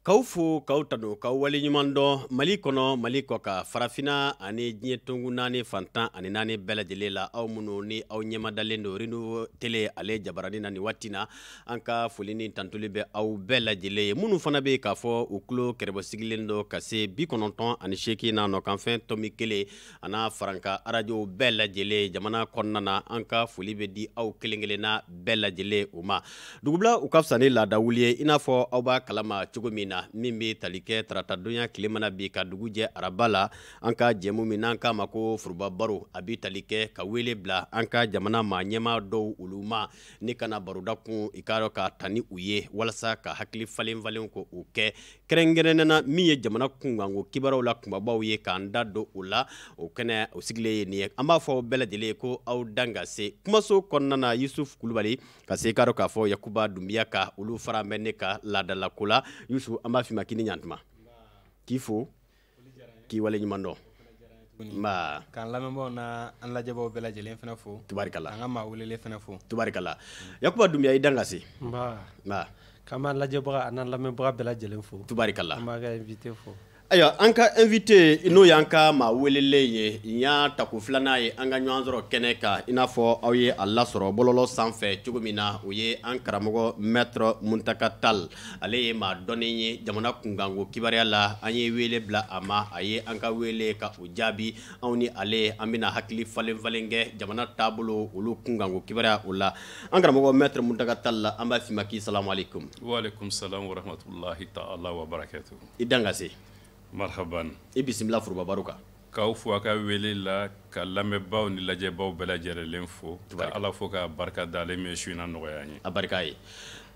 K'aw fo k'aw tanu k'aw waleɲuman dɔn mali kɔnɔ mali kɔ kan farafina ani diɲɛ tongu naani fan tan ani naani bɛɛ lajɛlen la aw minnu ni aw ɲɛmadalen don Renouveau Télé ale jabaranin na nin waati na an ka foli ni tantuli bɛ aw bɛɛ lajɛlen ye minnu fana bɛ k'a fɔ u tulo kɛrɛbɔ sigilen don ka se bi kɔnɔntɔn ani seegin na nɔkanfɛn tɔmi kelen a n'a faranka arajow bɛɛ lajɛlen jamana kɔnɔna na an ka foli bɛ di aw kelen kelenna bɛɛ lajɛlen o ma dugubila o ka fisa ni laadawuli ye i n'a fɔ aw b'a kalama cogo min na min bɛ tali kɛ taratadonya tile mana bin ka dugu jɛ araba la an ka jɛmu min n'an k'a ma ko foroba baro a bɛ tali kɛ ka wele bila an ka jamana maa ɲɛmaa dɔw olu ma ni ka na baro dakun i k'a dɔn k'a ta ni u ye walasa ka hakili falen falen ko o kɛ kɛrɛnkɛrɛnnena min ye jamana kunkanko kibaruyaw la kunbabaw ye k'an da don o la o kɛnɛ o sigilen ye nin ye an b'a fɔ aw bɛɛ lajɛlen ye ko aw dan ka se kumaso kɔnɔna na yusuf kulubali ka se k'a dɔn k'a fɔ yakuba dunbiya ka olu fara bɛ ne ka laadalako la yusuf an b'a f'i ma k'i ni ɲantuma k'i fo k'i waleɲuman dɔn nba k'an lamɛnbaaw na an lajɛbaaw bɛɛ lajɛlen fana fo tubarikala an ka maa welelen fana fo tubarikala yakuba dunbiya i dan ka se nba nba k'an b'a lajɛbaga a n'an lamɛnbaga bɛɛ lajɛlen fo tubarikala an b'an ka invité fo ayiwa an ka invité n'o y'an ka maa welelen ye nin y'a tako filanan ye an ka ɲɔgɔn sɔrɔ kɛnɛ kan i n'a fɔ aw ye a lasɔrɔ bɔlɔlɔ sanfɛ cogo min na o ye an karamɔgɔ maître muntaka tall Ale ye maa dɔnnen ye jamana kunkanko kibaruya la an ye wele bila a ma a ye an ka welekan o jaabi anw ni ale an bɛna hakili falen falen kɛ jamana taabolo olu kunkanko kibaruya o la an karamɔgɔ maître muntaka tall la an b'a f'i ma k'i salamu aleykum waalaikum salam i dan ka se marhaba i bisimila foroba baro kan k'aw fo aw ka wele la ka lamɛnbaaw ni lajɛbaaw bɛɛ lajɛlen fo ka ala fo k'a barika da ale min su in na nɔgɔya an ye a barika ye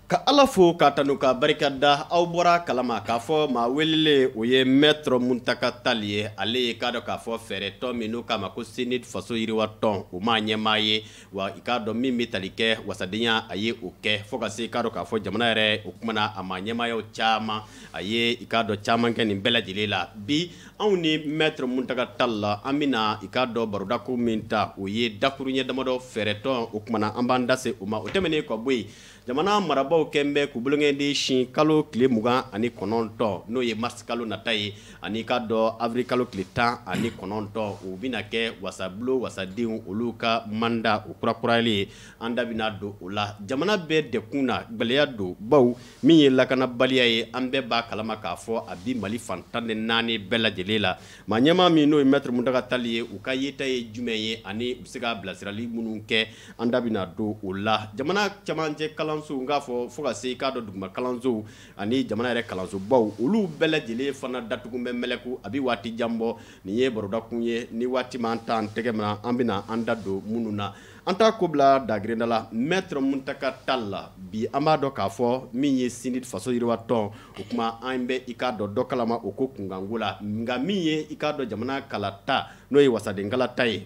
ka ala fo k'a tanu k'a barika da aw bɔra a kalama k'a fɔ maa welelen o ye maître muntaka tall ye ale ye k'a dɔn k'a fɔ fɛɛrɛ tɔn min n'u k'a ma ko CNID faso yiriwa tɔn o maa ɲɛmaa ye wa i k'a dɔn min bɛ tali kɛ wasadenya a ye o kɛ fo ka se k'a dɔn k'a fɔ jamana yɛrɛ o kumana a maa ɲɛmaayaw caman a ye i k'a dɔn caman kɛ nin bɛɛ lajɛlen la bi anw ni maître muntaka tall la an bɛna i k'a dɔn baro dakuru min ta o ye dakuruɲɛ damadɔ fɛɛrɛtɔn o kumana an b'an da se o ma o tɛmɛnen ka bɔ yen Jamana marabaaw kɛlen bɛ k'u bolonkɛden sin kalo tile mugan ani kɔnɔntɔn n'o ye mars kalo nata ye ani k'a dɔn avril kalo tile tan ani kɔnɔntɔn o bɛna kɛ wasabulon wasadenw olu ka manda o kurakurayali ye an da bɛna don o la jamana bɛ dɛgun na gɛlɛya don baw min ye lakanabaliya ye an bɛɛ b'a kalama k'a fɔ a bi mali fan tan ni naani bɛɛ lajɛlen la maa ɲɛmaa min n'o ye maître muntaka tall ye u ka yeta ye jumɛn ye ani u bɛ se ka bilasirali minnu kɛ An da bɛna don o la jamana cɛmancɛ kalanso k'a fɔ fo ka se i k'a dɔn duguma kalansow ani jamana yɛrɛ kalansobaw olu bɛɛ lajɛlen fana datugu bɛ mɛlɛku a bɛ waati jan bɔ nin ye barodakun ye ni waati m'an ta an tɛgɛ min an bɛna an da don minnu na an t'a ko bila dagirinda la maître Mountaga Tall la bi an b'a dɔn k'a fɔ min ye CNID faso yiriwa tɔn o tuma an bɛ i k'a dɔn dɔ kalama o ko kunkanko la nka min ye i k'a dɔn jamana kalata n'o ye wasadenkala ta ye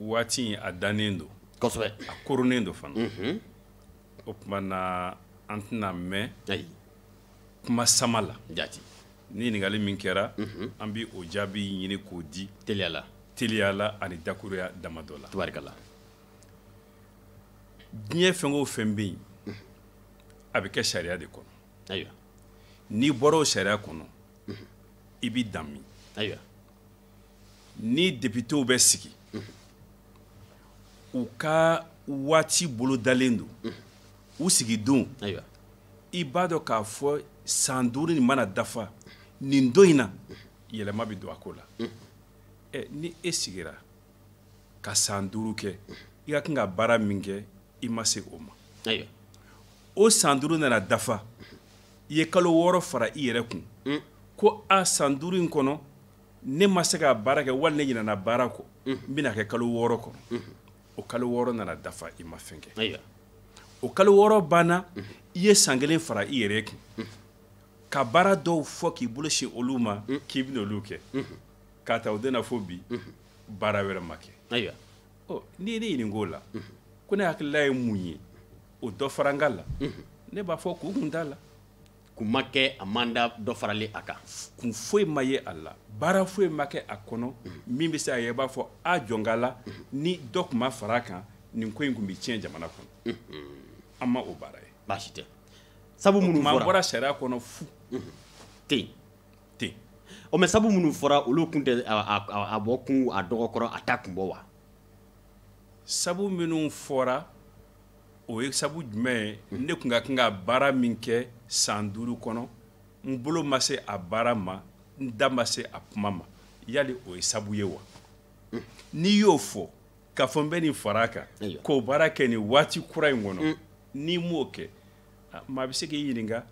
waati in a dannen don kosɛbɛ a koronnen don fana mhm. o tuma na an tɛna mɛn kuma sama la jati ni ɲininkali min kɛra mhm. an bɛ o jaabi ɲini k'o di teliya la ani dakuruya damadɔ la tubarikala diɲɛ fɛn o fɛn bɛ yen mhm. a bɛ kɛ sariya de kɔnɔ ayiwa n'i bɔra o sariya kɔnɔ i b'i dan min ayiwa ni depitew bɛ sigi u ka waati bolodalen don u sigi don i b'a dɔn k'a fɔ san duuru nin mana dafa nin don in na yɛlɛma bɛ don a ko la ɛ ni e sigira ka san duuru kɛ i ka kan ka baara min kɛ i ma se o ma o san duuru nana dafa i ye kalo wɔɔrɔ fara i yɛrɛ kun mm. ko a san duuru in kɔnɔ ne ma se ka baara kɛ wali ne ɲinana baara kɔ mm. n bɛna kɛ kalo wɔɔrɔ kɔnɔ mm-hmm. o kalo wɔɔrɔ nana dafa i ma fɛn kɛ o kalo wɔɔrɔ banna mm-hmm. i ye san kelen fara i yɛrɛ kun mm-hmm. ka baara dɔw fɔ k'i bolo sin olu ma mm. k'i bɛna olu kɛ k'a ta o don na fo bi baara wɛrɛ ma kɛ n'i ye ne ɲininka o la ko ne hakilila ye mun ye o dɔfarankan la ne b'a fɔ ko kun t'a la kun ma kɛ a manda dɔ faralen a kan kun foyi ma ye a la baara foyi ma kɛ a kɔnɔ min bɛ se a ye i b'a fɔ a jɔnka la ni dɔ tun ma fara a kan nin ko in tun bɛ tiɲɛ jamana kɔnɔ an ma o baara ye baasi tɛ sabu minnu fɔra an bɔra sariya kɔnɔ fu ten ten o mɛ sabu minnu fɔra olu kun tɛ a bɔ kun a dɔgɔkɔrɔ a ta kun bɔ wa sabu minnu fɔra o ye sabu jumɛn ye ne tun ka kan ka baara min kɛ san duuru kɔnɔ n bolo ma se a baara ma n da ma se a kuma ma yali o ye sabu ye wa n'i y'o fɔ k'a fɔ n bɛ nin fara a kan k'o baara kɛ nin waati kura in kɔnɔ n'i m'o kɛ maa bɛ se k'i ɲininka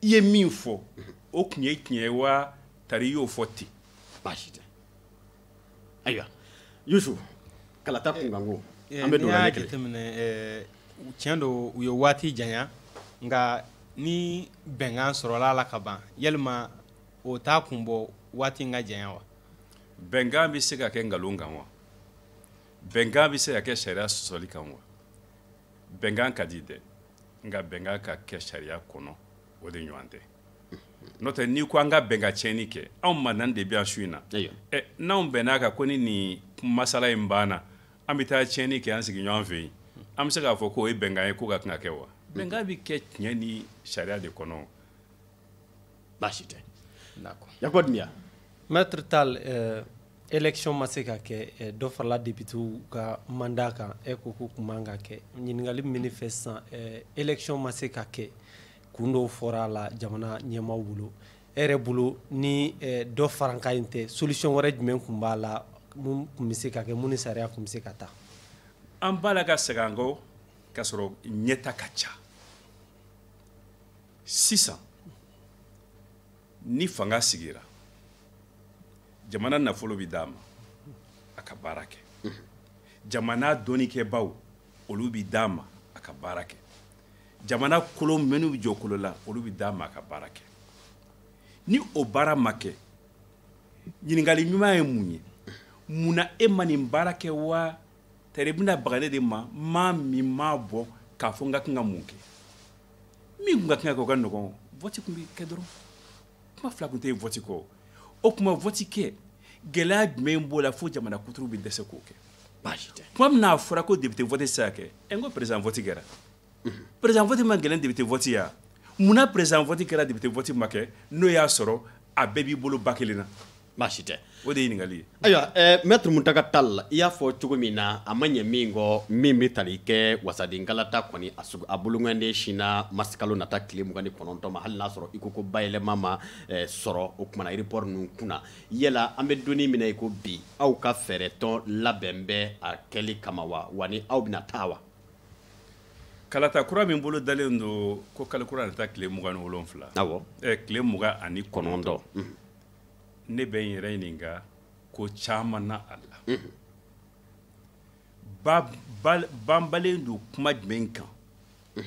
i ye min fɔ o tun ye tiɲɛ ye wa tari i y'o fɔ ten baasi tɛ ayiwa yusu kalata kunkanko eh, an bɛ don ale kɛlɛ jateminɛ eh, tiɲɛ don u ye waati janya nka ni bɛnkan sɔrɔla a la ka ban yalima o t'a kun bɔ waati in ka janya wa bɛnkan bɛ se ka kɛ nkalon kan wa bɛnkan bɛ se ka kɛ sariya sɔsɔli kan wa bɛnkan ka di dɛ nka bɛnkan ka kɛ sariya kɔnɔ o de ɲɔgɔn tɛ n'o tɛ n'i ko an ka bɛn ka tiɲɛni kɛ anw maa naani de bɛ yan su in na ɛ n'anw bɛnn'a kan ko ni nin masala in banna an bɛ taa tiɲɛni kɛ an sigiɲɔgɔn fɛ yen an bɛ se k'a fɔ k'o ye bɛnkan ye k'o ka kan ka kɛ wa bɛnkan bɛ kɛ tiɲɛ ni sariya de kɔnɔ baasi tɛ yakuba dunbiya maître tal euh, élection ma se ka kɛ euh, dɔ farala depitew ka mandat kan e ko k'o kun man kan ka kɛ ɲininkali min ne fɛ sisan euh, élection ma se ka kɛ kun dɔw fɔra a la jamana ɲɛmaaw bolo e yɛrɛ bolo ni eh, dɔfarankan in tɛ solution wɛrɛ jumɛn kun b'a la mun kun bɛ se ka kɛ mun ni sariya kun bɛ se ka taa an b'a la ka segin an kɔ k'a sɔrɔ ɲɛta ka ca sisan ni fanga sigira jamana nafolo bɛ d'a ma a ka baara kɛ jamana dɔnnikɛbaw olu bɛ d'a ma a ka baara kɛ jamana kolo minnu bɛ jɔkolo la olu bɛ d'a ma a ka baara kɛ ni o baara ma kɛ ɲininkali ɲuman ye mun ye mun na e ma nin baara kɛ wa tari bɛna baga ne de ma maa min ma bɔ k'a fɔ n ka kan ka mun kɛ min tun ka kan ka kɛ o ka nɔgɔn vɔti tun bɛ kɛ dɔrɔn kuma fila tun tɛ yen vɔti kɔ o tuma vɔti kɛ gɛlɛya jumɛn b'o la fo jamana kuturu bɛ dɛsɛ k'o kɛ baasi tɛ kuma min na a fɔra ko depite vɔti tɛ se ka kɛ ɛ n ko perezidan vɔti kɛra perezidan vɔti man gɛlɛn depite vɔti ye wa munna perezidan vɔti kɛra depite vɔti ma kɛ n'o y'a sɔrɔ a bɛɛ b'i bolo bakelen na baasi tɛ o de ye ɲininkali ye ayiwa maître muntaga tal i y'a fɔ cogo min na a ma ɲɛ min kɔ min bɛ tali kɛ wasadenkalata kɔni a sugu a bolonganden sinna marisikalo nata tile mugan ni kɔnɔntɔn ma hali n'a sɔrɔ i ko ko bayɛlɛma ma sɔrɔ o kuma na report ninnu kunna yala an bɛ don in min na i ko bi aw ka fɛɛrɛ tɔn labɛn bɛ a kɛli kama wa wa ni aw bɛna taa wa kalata kura min bolo dalen don ko kalo kura nata tile mugan ni wolonfila tile mugan ani kɔnɔntɔn ne bɛ n yɛrɛ ɲininka ko caman na a la banbalen don kuma jumɛn kan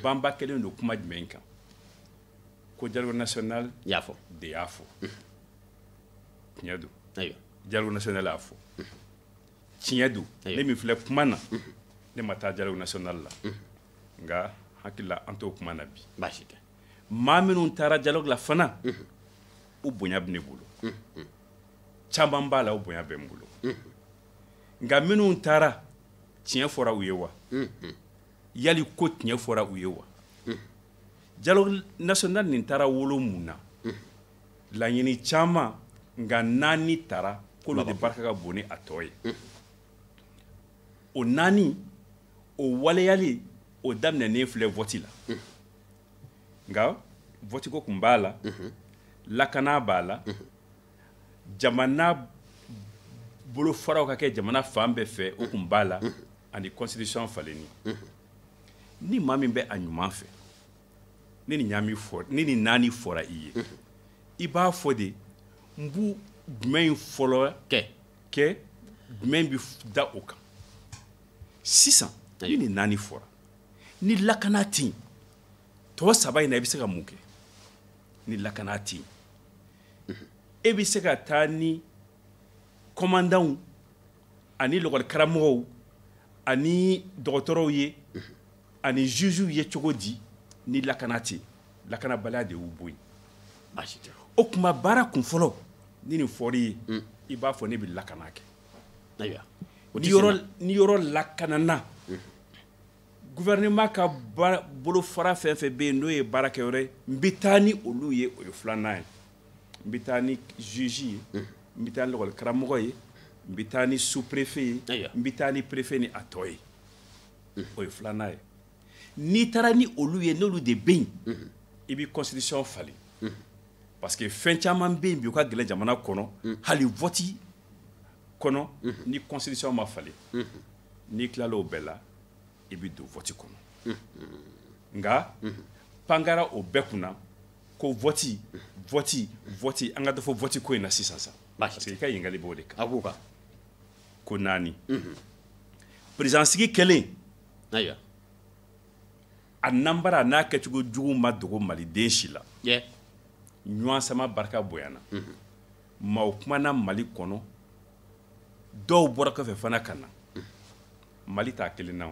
banba kɛlen don kuma jumɛn kan ko dialogue national y'a fɔ de y'a fɔ tiɲɛ don dialogue national y'a fɔ tiɲɛ don ne min filɛ kuma na ne ma taa dialogue national la nka hakilila an t'o kuma na bi baasi tɛ maa minnu taara dialogue la fana u bonya bɛ ne bolo caman b'a la o bonya bɛ n bolo nka minnu taara tiɲɛ fɔra u ye wa yali ko tiɲɛ fɔra u ye wa dialogue national nin taara wolo mun na laɲini caman nka naani tara k'olu de barika ka bon ni a tɔ ye o naani o waleyali o daminɛnen filɛ vɔti la nka vɔtiko kun b'a la lakana b'a la jamana bolofaraw ka kɛ jamana fan bɛɛ fɛ o kun b'a la ani constitution falenni ni maa min bɛ a ɲuman fɛ ni nin naani fɔ ni nin naani fɔra i ye i b'a fɔ de n b'u jumɛn in fɔlɔ kɛ kɛ jumɛn bɛ da o kan sisan ni nin naani fɔra ni lakana tɛ yen tɔ saba in na i bɛ se ka mun kɛ ni lakana tɛ yen e bɛ se ka taa ni kɔmandanw ani lakɔlikaramɔgɔw ani dɔgɔtɔrɔw ye ani jugew ye cogo di ni lakana tɛ lakanabaliya de y'u bɔ yen baasi tɛ o tuma baara kun fɔlɔ ni nin fɔr'i ye mm. i b'a fɔ ne bɛ lakana kɛ ayiwa ni yɔrɔ ni yɔrɔ lakanana mm. gouvernement ka bolofara fɛn o fɛn bɛ yen n'o ye baarakɛyɔrɔ ye n bɛ taa ni olu ye o ye filanan ye n bɛ taa ni juge ye mm. n bɛ taa ni lakɔli karamɔgɔ ye n bɛ taa ni sous-préfet ye n bɛ taa ni préfet ni a tɔ ye o ye filanan ye n'i taara ni olu ye n'olu de bɛ yen i bɛ constitution falen parce que fɛn caman bɛ yen bi u ka gɛlɛn jamana kɔnɔ hali vote kɔnɔ ni constitution ma falen n'i tilala o bɛɛ la i bɛ don vote kɔnɔ nka pan kɛra o bɛɛ kunna ko vote vote vote an ka dɔ fɔ vote ko in na sisan sa parce que i ka ɲininkali b'o de kan. ko naani président sigi kɛlen a nanbara n'a kɛcogo jugu ma dogo maliden si la ɲɔgɔn sama barika bonyana maaw kumana mali kɔnɔ dɔw bɔra kɔfɛ fana ka na mali t'a kelen na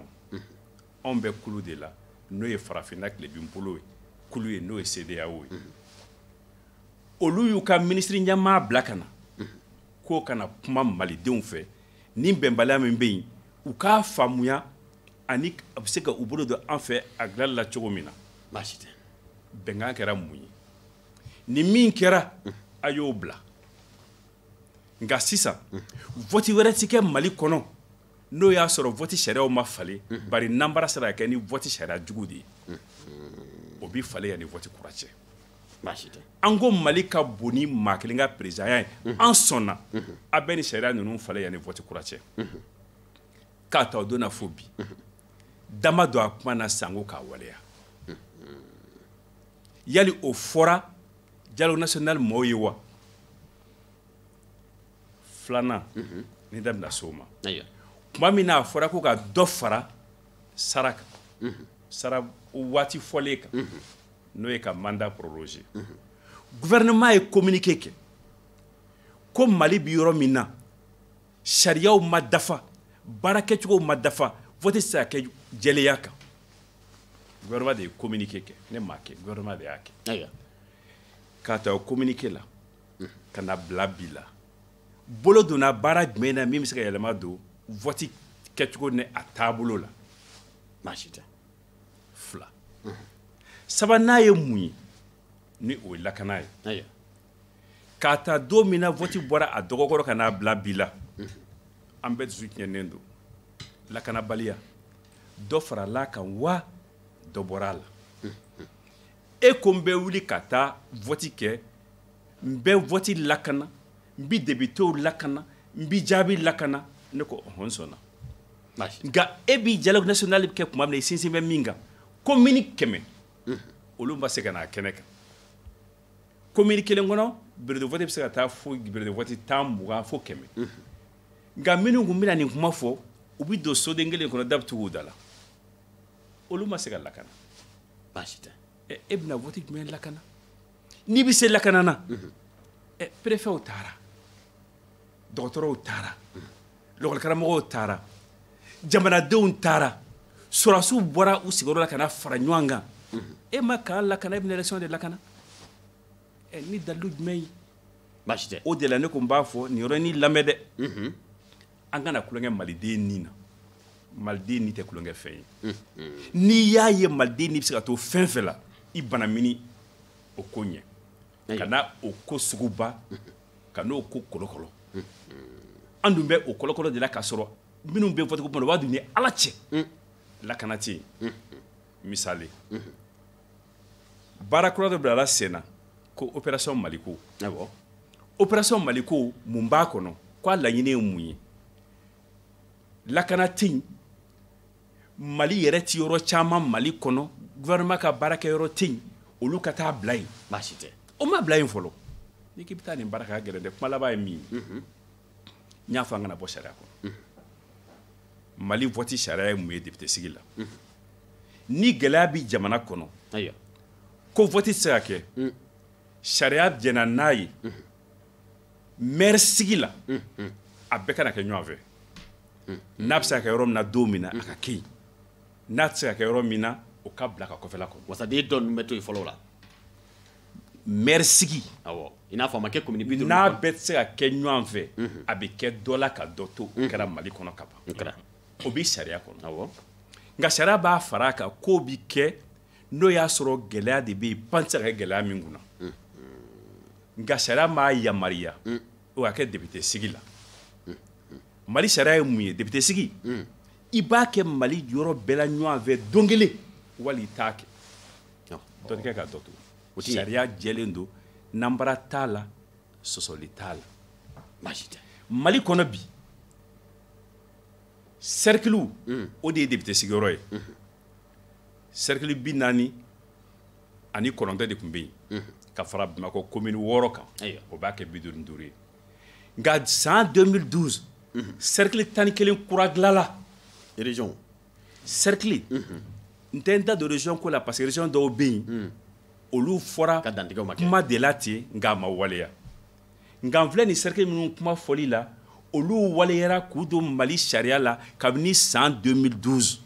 anw bɛ kulu de la n'o ye farafinna tilebinbolo ye kulu ye n'o ye CEDEAO ye olu y'u ka minisiri ɲɛmaa bila ka na k'u ka na kuma malidenw fɛ ni bɛnbaliya min bɛ yen u k'a faamuya ani a bɛ se ka u bolo don an fɛ a dilanli la cogo min na baasi tɛ bɛnkan kɛra mun ye ni min kɛra a y'o bila nka sisan vɔti wɛrɛ ti kɛ mali kɔnɔ n'o y'a sɔrɔ vɔti sariyaw ma falen bari nanbara sera ka kɛ ni vɔti sariya jugu de ye o bi falen yanni vɔti kura cɛ an ko mali ka bon ni maa kelen ka présidentya ye an sɔnna a bɛ ni sariya ninnu falen yanni vɔti kura cɛ k'a ta o don na fo bi da ma don a kuma na sanko k'a waleya yali o fɔra dialogue national mɔɔw ye wa filanan ni da bɛna se o ma tuma min na a fɔra ko ka dɔ fara sara kan sara waati fɔlen kan n'o ye ka mandat prolonger gouvernement ye communiqué kɛ ko mali bi yɔrɔ min na sariyaw ma dafa baara kɛcogow ma dafa vote se ka kɛ jɛlenya kan gouvernement de ye communiqué kɛ ne m'a kɛ gouvernement de y'a kɛ k'a ta o communiqué la ka n'a bila bi la bolo donna baara jumɛn na min bɛ se ka yɛlɛma don vote kɛcogo ni a taabolo la baasi tɛ fila sabanan ye mun ye ni o ye lakana ye k'a ta don min na vɔti bɔra a dɔgɔkɔrɔ ka n'a bila bi la an bɛɛ dusu tiɲɛnen don lakanabaliya dɔ farala a kan wa dɔ bɔra a la e ko n bɛ wuli ka taa vɔti kɛ n bɛ vɔti lakana n bi depitew lakana n bi jaabi lakana ne ko ɔhɔ n sɔnna nka e bi dialogue national bɛ kɛ tuma min na i sinsin bɛ min kan komini kɛmɛ olu ma se ka n'a kɛnɛ kan komini kelen kɔnɔ bureau de vote bɛ se ka taa fo bureau de vote tan mugan fo kɛmɛ nka minnu tun bɛna nin kuma fɔ u bɛ don soden kelen kɔnɔ da bɛ tugu u da la olu ma se ka lakana baasi tɛ e bɛna vɔti jumɛn lakana n'i bɛ se lakana na perefew taara dɔgɔtɔrɔw taara lakɔlikaramɔgɔw taara jamanadenw taara sɔrɔdasiw bɔra u sigiyɔrɔ la ka na fara ɲɔgɔn kan e ma kan lakana e bɛna élection de lakana ɛ ni dalilu jumɛn ye baasi tɛ o de la ne ko n b'a fɔ nin yɔrɔnin lamɛn dɛ mhm. an kana tulonkɛ maliden ni na maliden ni tɛ tulonkɛfɛn ye mhm. n'i y'a ye maliden ni bɛ se ka to fɛn fɛn la i banamini o ko ɲɛ kana o ko suguba mhm. ka n'o ko kɔlɔkɔlɔ an dun bɛ o kɔlɔkɔlɔ de la k'a sɔrɔ minnu bɛ vote ko bolo b'a dɔn u ni ala cɛ lakana tɛ yen misali baara kura dɔ bilala sen na ko opération maliko awɔ opération maliko mun b'a kɔnɔ ko a laɲini ye mun ye lakana tɛ yen Mali yɛrɛ tɛ yɔrɔ caman Mali kɔnɔ gouvernement ka baarakɛ yɔrɔ tɛ yen olu ka taa bila yen baasi tɛ o ma bila yen fɔlɔ n'i k'i bɛ taa nin baara kɛ a ka gɛlɛn dɛ kuma laban ye min ye n y'a fɔ an kana bɔ sariya kɔnɔ Mali vote sariya ye mun ye député sigi la ni gɛlɛya bɛ jamana kɔnɔ ayiwa ko vote tɛ se ka kɛ sariya jɛna n'a ye. mɛri sigi la a bɛɛ kana kɛ ɲɔgɔn fɛ n'a bɛ se ka kɛ yɔrɔ min na don min na a ka kɛ yen n'a tɛ se ka kɛ yɔrɔ min na o ka bila ka kɔfɛla kɔnɔ wasaden dɔ ninnu bɛ to yen fɔlɔ la mɛri sigi awɔ i n'a fɔ a ma kɛ komini bi duuru n'a bɛɛ tɛ se ka kɛ ɲɔgɔn fɛ a bɛ kɛ dɔ la ka dɔ to o kɛra mali kɔnɔ ka ban o bɛ sariya kɔnɔ awɔ nka sariya b'a fara a kan k'o bɛ kɛ n'o y'a sɔrɔ gɛlɛya de bɛ yen pan tɛ se ka kɛ gɛlɛya min kunna nka sariya m'a yamaruya o ka kɛ depite sigi la mali sariya ye mun ye depite sigi i b'a kɛ mali yɔrɔ bɛɛ la ɲɔgɔn fɛ don kelen wali i t'a kɛ dɔ kɛ ka dɔ to sariya jɛlen don nanbara t'a la sɔsɔli t'a la baasi tɛ mali kɔnɔ bi sɛrikiliw o de ye depite sigiyɔrɔ ye cercle bi naani ani kɔnɔntɔn de tun bɛ yen mhm. ka fara bamakɔ commune wɔɔrɔ kan o b'a kɛ bi duuru ni duuru ye nka san 2012 mhm. cercle tan ni kelen kura dilanna région cercle mhm. n tɛ n da don région ko la parce que région dɔw bɛ yen olu fɔra kuma de la ten nka a ma waleya nka n filɛ nin cercle minnu kuma fɔli la olu waleyara k'u don Mali sariya la kabini san 2012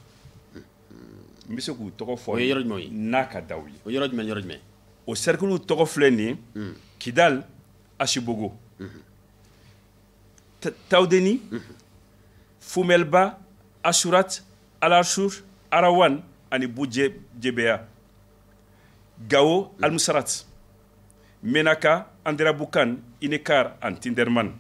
n bɛ se k'u tɔgɔ fɔ o ye yɔrɔ jumɛn ye n'a ka d'aw ye o yɔrɔ jumɛn yɔrɔ jumɛn o cercle tɔgɔ filɛ nin ye hmm. Kidal Asibogo hmm. Taudeni hmm. Fumelba Asurat Alashur Arawan ani Bujebeya Gao Almusarat menaka anderabukan inekar ani tinderman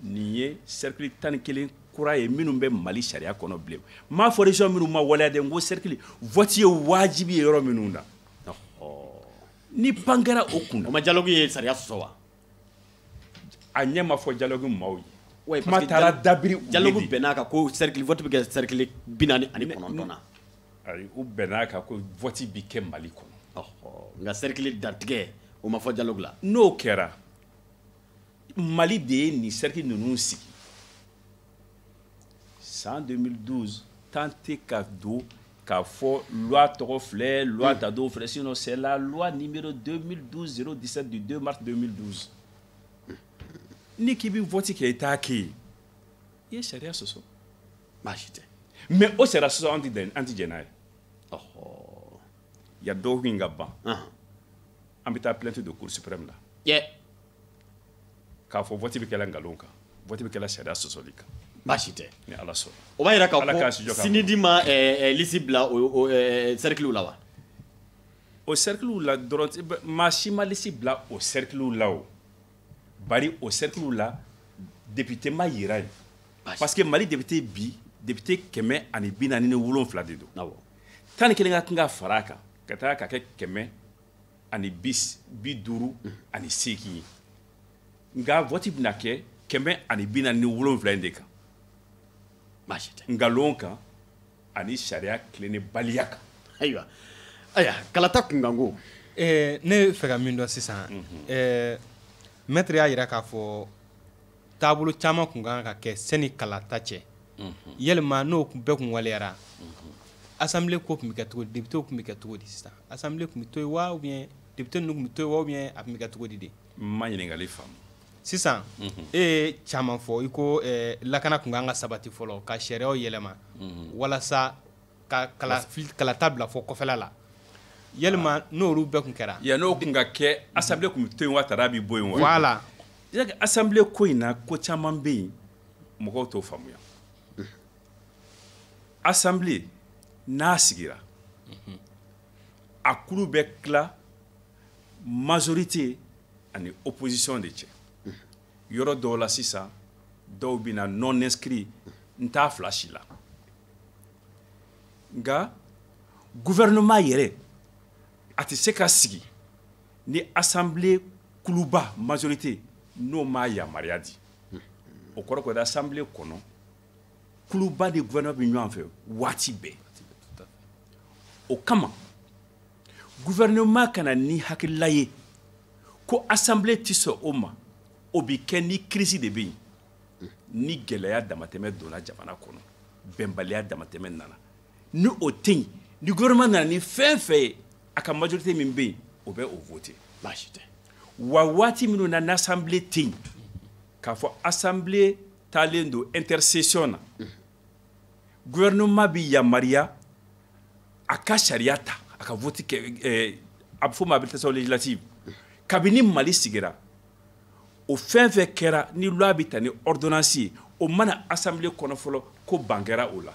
nin ye cercle tan ni kelen kura ye minnu bɛ mali sariya kɔnɔ bi ne m'a fɔ région minnu ma waleya dɛ n ko cercle vote ye wajibi ye yɔrɔ minnu na ni pan kɛra o kunna o ma dialogue ye sariya sɔsɔ wa a ɲɛ ma fɔ dialogue maaw ye ouais, kuma taara dabiri dialogue bɛnn'a kan ko cercle vote bɛ kɛ cercle bi naani ani kɔnɔntɔn na ayi u bɛnn'a kan ko vote bi kɛ mali kɔnɔ nka cercle dantigɛ o ma fɔ dialogue la n'o kɛra mali de ye nin cercle ninnu sigi san 2012 tan tɛ ka don k'a fɔ loi tɔgɔ filɛ loi ta don filɛ sinon c'est la loi numéro 2012 017 du 2 mars 2012 n'i k'i bɛ vote kɛ i t'a kɛ yen i ye sariya sɔsɔ baasi tɛ mais o sariya sɔsɔ an tɛ dɛn an tɛ jɛn n'a ye ya dɔgɔkun in ka ban an bɛ taa plainte don cour suprême la k'a fɔ vote bɛ kɛla nkalon kan vote bɛ kɛla sariya sɔsɔli kan baasi tɛ ni ala sɔnna o b'a jira k'a fɔ CNID ma eh, eh, liste bila o eh, cerclew la wa o cerclew la dɔrɔn maa si ma liste bila o cerclew la o bari o cerclew la député ma yira yen parce que mali député bi député kɛmɛ ani bi naani ni wolonfila de don tan ni kelen ka kan ka fara a kan ka taa ka kɛ kɛmɛ ani bis bi duuru ani seegin ye nka vote bɛna kɛ kɛmɛ ani bi naani ni wolonfila in de kan baasi tɛ nkalon kan ani sariya tilennenbaliya kan ayiwa aya kalata kunkanko eh, ne fɛ ka min dɔn sisan mhm. eh, maître y'a yira k'a fɔ taabolo caman kun kan ka kɛ sani kalata cɛ yalima n'o bɛɛ kun waleyara assemblée ko kun bɛ kɛ cogo di députéw kun bɛ kɛ cogo di sisan assemblée kun bɛ to yen wa ou bien député ninnu kun bɛ to yen wa ou bien a kun bɛ kɛ cogo di ne ma ɲininkali faamu sisan e ye caman fɔ i ko lakana kun kan ka sabati fɔlɔ ka sariyaw yɛlɛma walasa ka kalata bila fɔ kɔfɛla la yalima n'olu bɛɛ kun kɛra yan n'o kun ka kɛ assemblée kun bɛ to yen wa tar'a bi bɔ yen wa voilà assemblée ko in na ko caman bɛ yen mɔgɔw t'o faamuya assemblée n'a sigira a kulu bɛ tila majorité ani opposition de cɛ yɔrɔ dɔw la sisan dɔw bɛ na non inscrit n t'a fila si la nka gouvernement yɛrɛ a tɛ se ka sigi ni assemblée kuluba majorité n'o m'a yamaruya di o kɔrɔ ko di assemblée kɔnɔ kuluba ni gouvernement bɛ ɲɔgɔn fɛ waati bɛɛ o kama gouvernement ka na ni hakilila ye ko assemblée tɛ sɔn o ma o bɛ kɛ ni crise de bɛ yen ni gɛlɛya damatɛmɛ donna jamana kɔnɔ bɛnbaliya damatɛmɛ nana ni o tɛ yen ni gouvernement nana ni fɛn fɛn ye a ka majorité min bɛ yen o bɛ o voter baasi tɛ wa waati minnu na n'assemblée tɛ yen k'a fɔ assemblée taalen don intersession na gouvernement bɛ yamaruya a ka sariya ta a ka vote kɛ ɛɛ a bɛ fɔ o ma habilitation législative kabini Mali sigira o fɛn fɛn kɛra ni loi bɛ ta ni ordonnance ye o ma na assemblée kɔnɔ fɔlɔ ko ban kɛra o la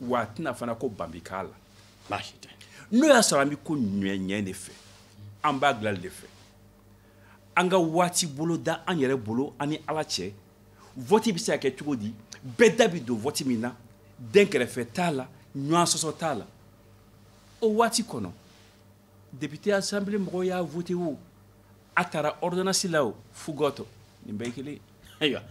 wa a tɛ na fana ko ban bɛ k'a la baasi tɛ n'o y'a sɔrɔ an bɛ koɲɛ ɲɛ de fɛ an b'a dilan de fɛ an ka waati bolo da an yɛrɛ bolo an ni ala cɛ vote bɛ se ka kɛ cogo di bɛɛ da bɛ don vote min na dɛnkɛrɛfɛ t'a la ɲɔgɔn sɔsɔ t'a la o waati kɔnɔ Député assemblée mɔgɔw y'a voté o a tara ordonnance la o fo gɔtɔ nin bɛɛ ye kelen ye ayiwa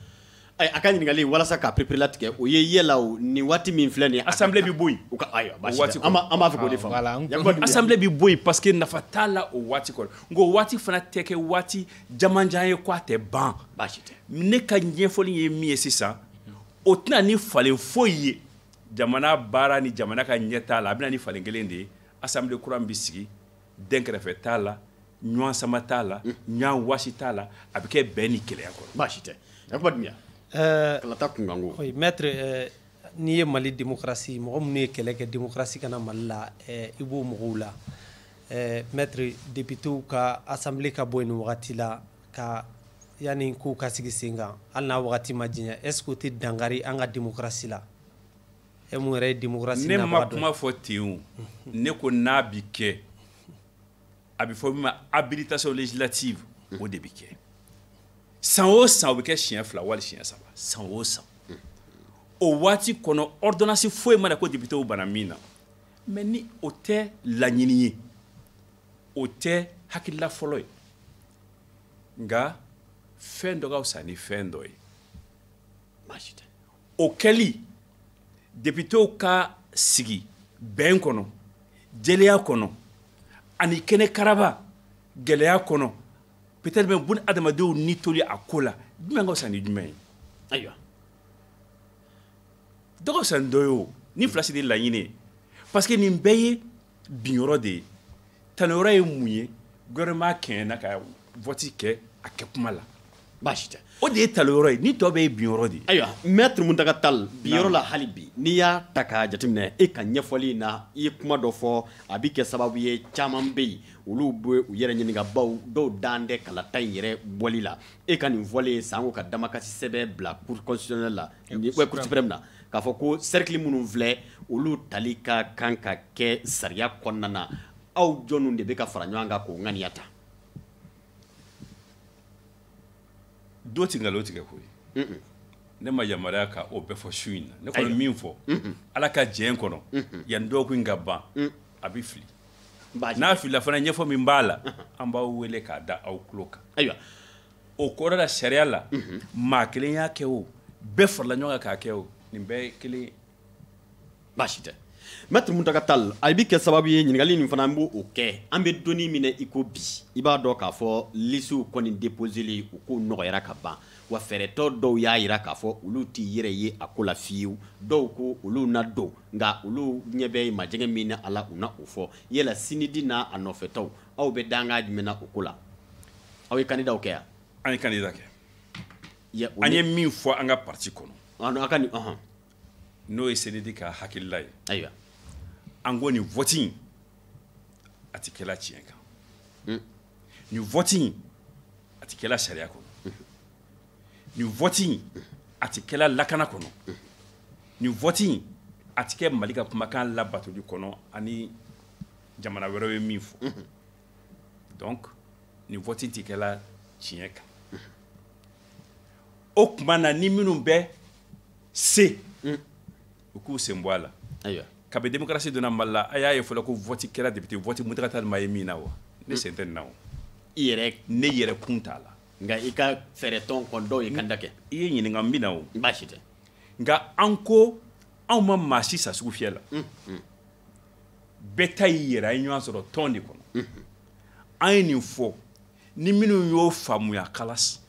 ayi a ka ɲininkali walasa k'a pereperelatigɛ o ye yala o nin waati min filɛ nin ye assemblée bɛ bɔ yen o ka ayiwa baasi tɛ an b'a an b'a fɛ k'o de faamu voilà n Yakuba Dunbiya assemblée bɛ bɔ yen parce que nafa t'a la o waati kɔnɔ nka o waati fana tɛ kɛ waati jamanjan ye ko a tɛ ban baasi tɛ ne ka ɲɛfɔli ye min ye sisan o tɛ na ni falen foyi ye jamana baara ni jamana ka ɲɛtaa la a bɛ na ni falen kelen de ye assemblée kura min bɛ sigi dɛnkɛrɛfɛ t'a la ɲɔgɔn sama t'a la ɲɔgɔn wasi t'a la a bɛ kɛ bɛn ni kelenya kɔnɔ baasi tɛ Yakuba Dunbiya eh, kalata kunkanko oui maître eh, n'i ye Mali démocratie mɔgɔ minnu ye kɛlɛ kɛ démocratie ka na Mali la eh, i b'o mɔgɔw la maître députéw ka assemblée ka bɔ yen nin wagati la ka yani kow ka sigi sen kan hali n'a wagati ma janya est ce que o tɛ dankari an ka démocratie la e mun yɛrɛ ye démocratie ne ma kuma fɔ ten o ne ko n'a bi kɛ a bɛ fɔ min ma habilitation législative o de bi kɛ san o san o bɛ kɛ siɲɛ fila wali siɲɛ saba san o san o waati kɔnɔ ordonnance foyi ma na ko députéw banna min na mais ni o tɛ laɲini ye o tɛ hakilila fɔlɔ ye nka fɛn dɔ ka fisa ni fɛn dɔ ye baasi tɛ o kɛli députéw ka sigi bɛn kɔnɔ jɛlenya kɔnɔ ani kɛnɛkaraba gɛlɛya kɔnɔ peut-être même bun adamadenw ni toli a ko la jumɛn ka fisa ni jumɛn ye ayiwa dɔ ka fisa ni dɔ ye o nin fila si tɛ laɲini ye parce que nin bɛɛ ye bin yɔrɔ de ye tali yɔrɔ ye mun ye gouvernement kɛɲɛna ka vote kɛ a kɛ kuma la baasi tɛ o de ye tali yɔrɔ ye nin tɔ bɛɛ ye bin yɔrɔ de ye ayiwa maître muntaka tal bin yɔrɔ la hali bi n'i y'a ta k'a jateminɛ e ka ɲɛfɔli in na i ye kuma dɔ fɔ a bɛ kɛ sababu ye caman bɛ yen olu bɛ u yɛrɛ ɲininka baw dɔw dan tɛ kalata in yɛrɛ bɔli la e ka nin fɔlen sanko ka damakasi sɛbɛn bila cour constitutionnelle la cour suprême na k'a fɔ ko cercle minnu filɛ olu tali ka kan ka kɛ sariya kɔnɔna na aw jɔnw de bɛ ka fara ɲɔgɔn kan k'o ŋaniya ta do tɛ nkalon tigɛ koyi ne ma yamaruya ka o bɛɛ fɔ su in na ne kɔni min fɔ ala ka jɛn kɔnɔ yanni dɔgɔkun in ka ban a bɛ fili n'a filila fana ɲɛfɔ min b'a la an b'aw wele k'a da aw tulo kan ayiwa o kɔrɔ la sariya la maa kelen y'a kɛ o bɛɛ farala ɲɔgɔn kan k'a kɛ o nin bɛɛ ye kelen ye baasi tɛ maître muntaka tal a bɛ kɛ sababu ye ɲininkali nin fana an b'o kɛ an bɛ don min na i ko bi i b'a dɔn k'a fɔ lisiw kɔni deposeli u k'o nɔgɔyara ka ban wa fɛɛrɛtɔn dɔw y'a jira k'a fɔ olu t'i yɛrɛ ye a ko la fiyewu dɔw ko olu na don nka olu ɲɛ bɛ majɛgɛ min na a la u na o fɔ yala CNID n'a nɔfɛtɔw aw bɛ dankan jumɛn na o ko la aw ye candidat kɛ yan an ye candidat kɛ an ye min fɔ an ka parti kɔnɔ aw ka nin ɔhɔn n'o ye CNID ka hakilila ye ayiwa an ko nin vote in a tɛ kɛla tiɲɛ kan hmm. nin vote in a tɛ kɛla sariya kɔnɔ hmm. nin vote in hmm. a tɛ kɛla lakana kɔnɔ nin vote in a tɛ kɛ mali ka kumakan labatoli kɔnɔ ani jamana wɛrɛw ye min fɔ donc nin vote in tɛ kɛla tiɲɛ kan o tuma na ni minnu bɛ se u k'u sen bɔ a la ayiwa kabi démocratie donna mali la a y'a ye fɔlɔ ko vote kɛra député vote muntaka tal ma ye min na wa ne sen tɛ nin na o i yɛrɛ ne yɛrɛ kun t'a la nka i ka fɛɛrɛtɔn kɔni dɔw ye candidat kɛ i ye ɲininka n bɛ na o baasi tɛ nka an ko anw ma maa si san sugufiyɛ la bɛɛ ta y'i yɛrɛ an ye ɲɔgɔn sɔrɔ tɔn de kɔnɔ an ye nin fɔ ni minnu y'o faamuya kalas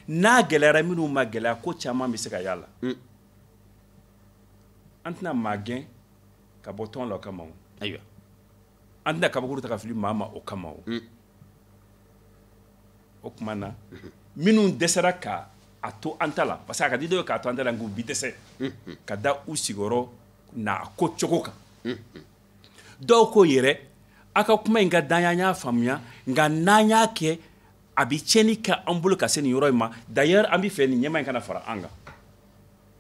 n'a gɛlɛyara minnu ma gɛlɛya ko caman bɛ se ka y'a la mm. an tɛna maa gɛn ka bɔ tɔn la o kama o ayiwa an tɛna kabakuru ta ka fili maa ma o kama o mm. o tuma na mm-hmm. minnu dɛsɛra ka a to an ta la parce que a ka di dɔw ye k'a to an ta la nka u bi dɛsɛ mm-hmm. ka da u sigiyɔrɔ n'a ko cogo kan dɔw ko yɛrɛ a ka kuma in ka d'an ye an y'a faamuya nka n'an y'a kɛ a bɛ tiɲɛni kɛ an bolo ka se nin yɔrɔ in ma d'ailleurs an b'a fɛ nin ɲɛma in kana fara an kan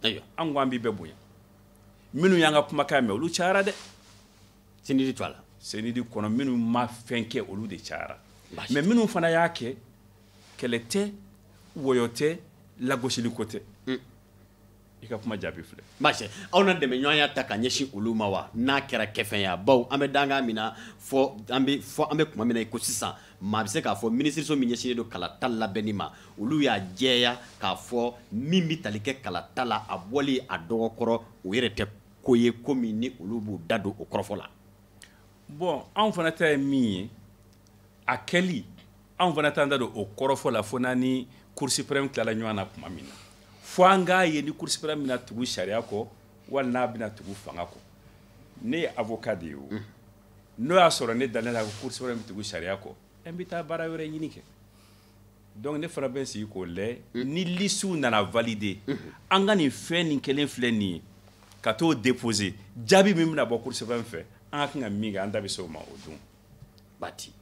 ayiwa an ko an b'i bɛɛ bonya minnu y'an ka kumakan mɛn olu cayara dɛ CNID to a la CNID kɔnɔ minnu ma fɛn kɛ olu de cayara mais minnu fana y'a kɛ kɛlɛ tɛ wɔyɔ tɛ lagosiliko tɛ i ka kuma jaabi filɛ baasi aw na dɛmɛɲɔgɔnya ta ka ɲɛsin olu ma wa n'a kɛra kɛfɛn ye bawo an bɛ dankan min na fɔ an bɛ fɔ an bɛ kuma min na i ko sisan maa bɛ se k'a fɔ minisiriso min ɲɛsinnen don kalata labɛnni ma olu y'a jɛya k'a fɔ min bɛ tali kɛ kalata la a bɔli a dɔgɔ kɔrɔ o yɛrɛ tɛ ko ye ko min ni olu b'u da don o kɔrɔfɔ la bon anw fana ta ye min ye a kɛli anw fana t'an da don o kɔrɔfɔ la fo n'an ni Cour suprême tilala ɲɔgɔn na tuma min na fo an k'a ye ni Cour suprême bɛna tugu sariya kɔ wali n'a bɛna tugu fanga kɔ ne ye avocat de ye o n'o y'a sɔrɔ ne dalen la ko Cour suprême bɛ tugu sariya kɔ n bɛ taa baara wɛrɛ ɲini kɛ donc ne fana bɛ n sigi k'o lajɛ ni listes nana valider an ka nin fɛn nin kelen filɛ nin ye ka t'o déposer jaabi min bɛna bɔ Cour suprême fɛ an ka kan ka min kɛ an da bɛ se o ma o don. bati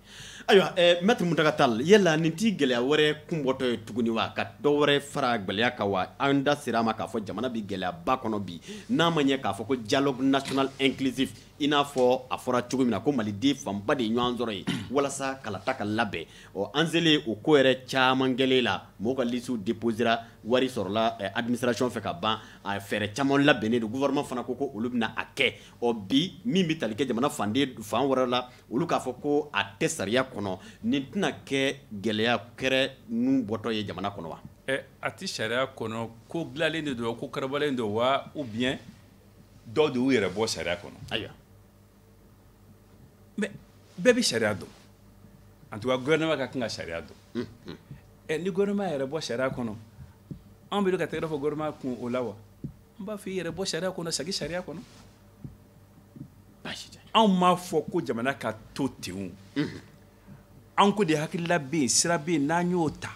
ayiwa eh, maître Mountaga Tall yala nin t'i gɛlɛya wɛrɛ kunbɔtɔ ye tuguni wa ka dɔ wɛrɛ fara gɛlɛya kan wa an da sera a ma k'a fɔ jamana bɛ gɛlɛyaba kɔnɔ bi n'a ma ɲɛ k'a fɔ ko dialogue national inclusif i n'a fɔ a fɔra cogo min na ko maliden fanba de ye ɲɔgɔn sɔrɔ yen walasa kalata ka labɛn ɔ an selen o ko yɛrɛ caman kɛlen la mɔgɔw ka lisiw déposera wari sɔrɔla eh, administration fɛ ka ban a fɛɛrɛ caman labɛnnen don gouvernement fana ko ko olu bɛna a kɛ ɔ bi min bɛ tali kɛ jamana fan fan wɛrɛ la olu k'a fɔ ko a tɛ sariya kɔnɔ nin tɛna kɛ gɛlɛya wɛrɛ nun bɔtɔ ye jamana kɔnɔ wa ɛ eh, a tɛ sariya kɔnɔ ko dilanlen de don ko karabalen don wa ou bien dɔw de y'u yɛrɛ bɔ sariya kɔnɔ ayiwa mais bɛɛ bɛ sariya dɔn en tout cas gouvernement ka kan ka sariya dɔn ɛ hmm, eh, ni gouvernement yɛrɛ bɔ sariya kɔnɔ anw bɛ ka tɛgɛrɛ fɔ gouvernement kun o la wa n b'a fɔ i yɛrɛ bɔ sariya kɔnɔ sagi sariya kɔnɔ anw m'a fɔ ko jamana ka to ten mhm. an ko de hakilila bɛ yen sira bɛ yen n'an y'o ta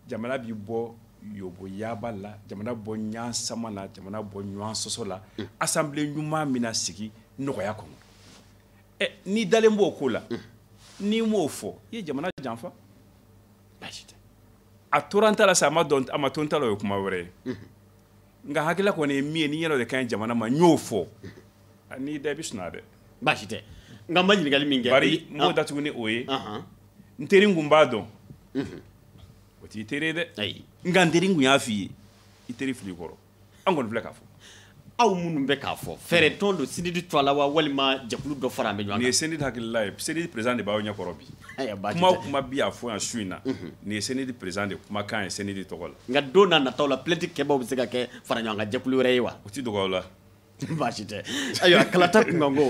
jamana bɛ bɔ yoboyaba la jamana bɔ ɲɔgɔn sama la jamana bɔ ɲɔgɔn sɔsɔ la mhm. assemblée ɲuman min na sigi nɔgɔya kɔnɔ ɛ n'i dalen b'o ko la mhm. n'i m'o fɔ i ye jamana janfa a tora n ta la sa a ma dɔn a ma to n ta la o ye kuma wɛrɛ ye nka hakilila kɔni ye min ye nin yɛrɛ de ka ɲi jamana ma n y'o fɔ n'i da i bɛ suna dɛ baasi tɛ nka n ma ɲininkali min kɛ bari n b'o ah. datugu ni o ye n teri n kun b'a dɔn o t'i teri ye dɛ nka n teri n kun y'a f'i ye i teri fili kɔrɔ an kɔni filɛ k'a fɔ aw minnu bɛ k'a fɔ fɛɛrɛ tɔn don sinidi tɔgɔ la wa walima jɛkulu dɔ faralen bɛ ɲɔgɔn kan nin ye sinidi hakilila ye sinidi président de b'aw ɲɛkɔrɔ bi kuma o kuma bi a fɔ yan su in na mhm. nin ye sinidi président de kumakan ye sinidi tɔgɔ la nka don nataw la plainte kɛbaaw bɛ se ka kɛ fara ɲɔgɔn kan jɛkulu wɛrɛ ye wa o tɛ dogo aw la baasi tɛ ayiwa kalata kunkanko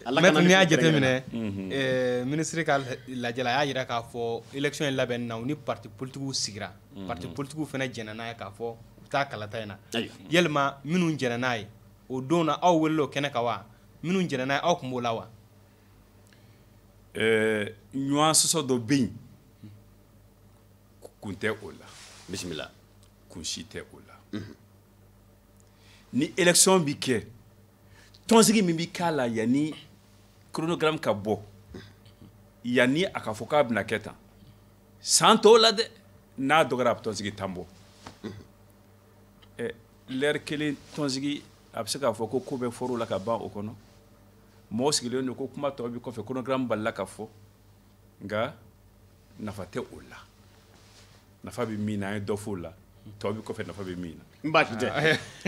mɛtiri n'i y'a jateminɛ minisiri ka lajɛ la a y'a jira k'a fɔ élection in labɛn na u ni parti politigiw sigira parti politigiw fana jɛnna n'a ye k'a fɔ u bɛ taa kalata in na yalima minnu jɛnna n'a ye o don na aw welela o kɛnɛ kan wa minnu jɛnna n'a ye aw tun b'o la wa ɲɔgɔn sɔsɔ dɔ bɛ yen kun tɛ o la bisimila kun si tɛ o la mhm. ni élection bi kɛ tɔnsigi min bi k'a la yanni chronogramme ka bɔ yanni a ka fɔ k'a bɛna kɛ tan san tɔw la dɛ n'a dɔgɔyara a bɛ tɔnsigi tan bɔ mhm. eh, lɛri kelen tɔnsigi a bɛ se k'a fɔ ko ko bɛɛ fɔr'o la ka ban o kɔnɔ mɔgɔ sigilen don ko kuma tɔ bi kɔfɛ chronogramme balala ka fɔ nka nafa tɛ o la nafa bɛ min na an ye dɔ f'o la tɔ bɛ kɔfɛ nafa bɛ min na n baasi tɛ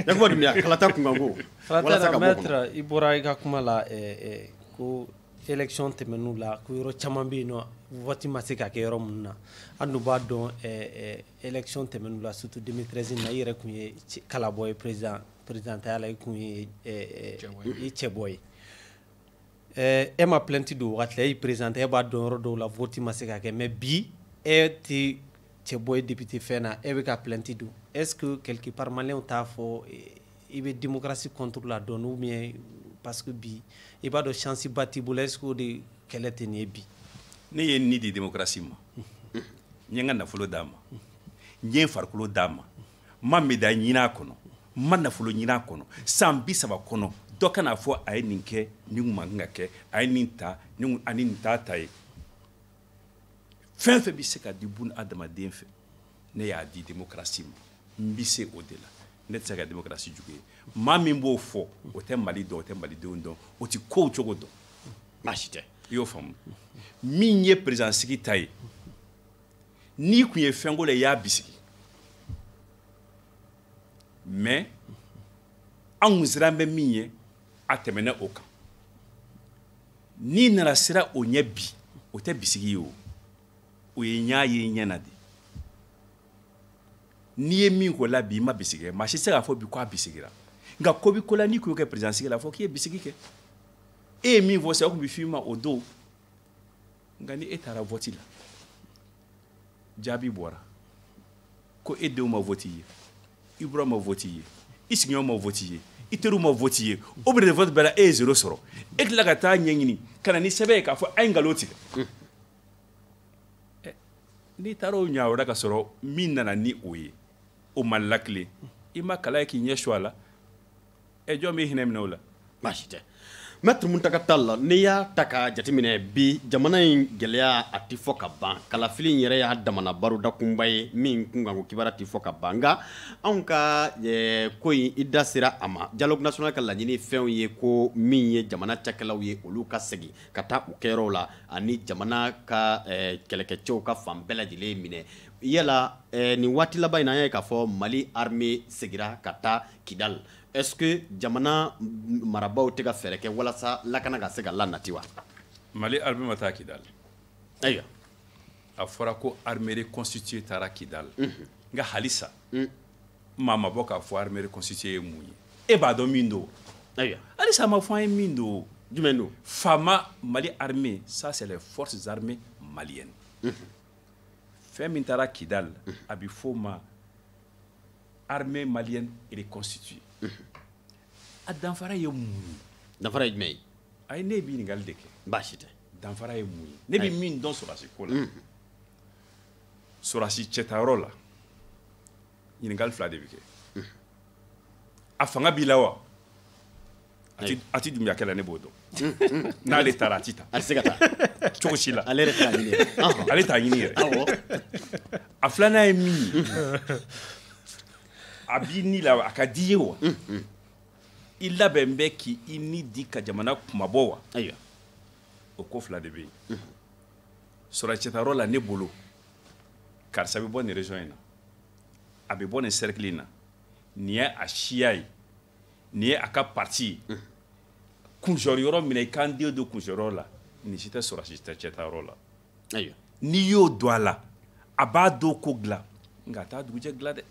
yakuba dunbiya kalata kunkanko walasa ka bɔ kɔnɔ i bɔra i ka kuma la eh, eh, ko élection tɛmɛnenw la ko yɔrɔ caman bɛ yen nɔ vote ma se ka kɛ yɔrɔ minnu na an dun b'a dɔn eh, élection tɛmɛnenw la surtout 2013 na i yɛrɛ tun ye kalabɔ ye présidentaya la i tun ye i cɛbɔ ye Eh, e ma plainte don wagati la e y'i présenter e b'a dɔn yɔrɔ dɔw la vote ma se ka kɛ mais bi e tɛ cɛbɔ ye député fɛn na e bɛ ka plainte don est ce que quelque part maliyɛnw t'a fɔ eh, i bɛ démocratie contre la don ou bien parce que bi i b'a dɔn chance ba t'i bolo est ce que o de kɛlɛ tɛ nin ye bi. ne ye ni di démocratie ma n ye n ka nafolo d'a ma n ye n farikolo d'a ma ma médaille ɲinin a kɔnɔ n ma nafolo ɲinin a kɔnɔ san bi saba kɔnɔ dɔ kan'a fɔ a ye nin kɛ nin kun man kan ka kɛ a ye nin ta ani nin t'a ta ye fɛn fɛn bɛ se ka di bun adamaden fɛ ne y'a di démocratie ma n bɛ se o de la ne tɛ se ka démocratie jugu ye maa min b'o fɔ o tɛ mali dɔn o tɛ malidenw dɔn o tɛ kow cogo dɔn baasi tɛ i y'o faamu min ye président sigi ta ye n'i tun ye fɛnko la i y'a bisigi mais an kun siran bɛ min ɲɛ a tɛmɛna o kan n'i nana siran o ɲɛ bi o tɛ bisigi ye o o ye ɲa ye ɲɛ na de n'i ye min ko la bi i ma bisigi kɛ maa si tɛ se k'a fɔ bi ko a bisigira nka ko bi ko la n'i kun y'o kɛ président sigi la fɔ k'i ye bisigi kɛ e ye min fɔ sa o tun bɛ f'i ma o don nka ni e taara vɔti la jaabi bɔra ko e denw ma vɔti ye i buran ma vɔti ye i sigiɲɔgɔn ma vɔti ye i teriw ma vɔti ye o biro vɔti bɛɛ la e ye zero sɔrɔ e tila ka taa ɲɛɲini ka na ni sɛbɛn ye k'a fɔ a ye nkalon tigɛ n'i taara o ɲa wɛrɛ ka sɔrɔ min nana ni o ye o ma lakile i ma kala ye k'i ɲɛ su a la ɛ jɔn bɛ hinɛ minɛ o la baasi tɛ mɛtiri muntaka tali n'i y'a ta ka jateminɛ bi jamana in gɛlɛya a tɛ fɔ ka ban kalafili in yɛrɛ y'a damana baroda kunba ye min kunkanko kibaruya tɛ fɔ ka ban nka anw ka ko in i da sera a ma dialogue national ka laɲini fɛnw ye ko min ye jamana cakɛlaw ye olu ka segin ka taa u kɛyɔrɔw la ani jamana ka kɛlɛkɛcɛw ka fan bɛɛ lajɛlen minɛ yala nin waati laban in na an y'a ye k'a fɔ mali armée segira ka taa Kidal est-ce que jamana marabaaw tɛ ka fɛɛrɛ kɛ walasa lakana ka se ka lanati wa Mali armée ma taa Kidal ayiwa a fɔra ko armée reconstituée taara Kidal mhm. nka halisa mm. maa ma bɔ k'a fɔ armée reconstituée ye mun ye e b'a dɔn min don ayiwa halisa a ma fɔ an ye min don jumɛn don FAMa Mali armée ça c'est les forces armées maliennes mhm. fɛn min taara Kidal mhm. a bɛ f'o ma armée malienne reconstituée a danfara ye mun ye danfara ye jumɛn ye ayi ne bɛ ɲininkali de kɛ baasi tɛ danfara ye mun ye ne bɛ min dɔn sɔrɔdasi ko la sɔrɔdasi cɛtayɔrɔ la ɲininkali fila de bɛ kɛ a fanga b'i la wa a tɛ Dunbiyakɛ la ne b'o dɔn n'ale taara a tɛ ta a tɛ se ka ta cogo si la ale ale t'a ɲini yɛrɛ a filanan ye min ye a b'i ni la a ka d'i ye wa i labɛn bɛ k' i ni di ka jamana kunmabɔ wa ayiwa o ko fila de bɛ yen sɔrɔsi cɛtayɔrɔ la ne bolo karisa bɛ bɔ nin région in na a bɛ bɔ nin cercle in na nin ye a siya ye nin ye a ka parti ye mm. kunsɔrɔ yɔrɔ minɛ i kan den don kunsɔrɔ la nin si tɛ sɔrɔsi cɛtayɔrɔ la ayiwa n'i y'o don a la a b'a don ko dilan nka a t'a dugujɛ dilan dɛ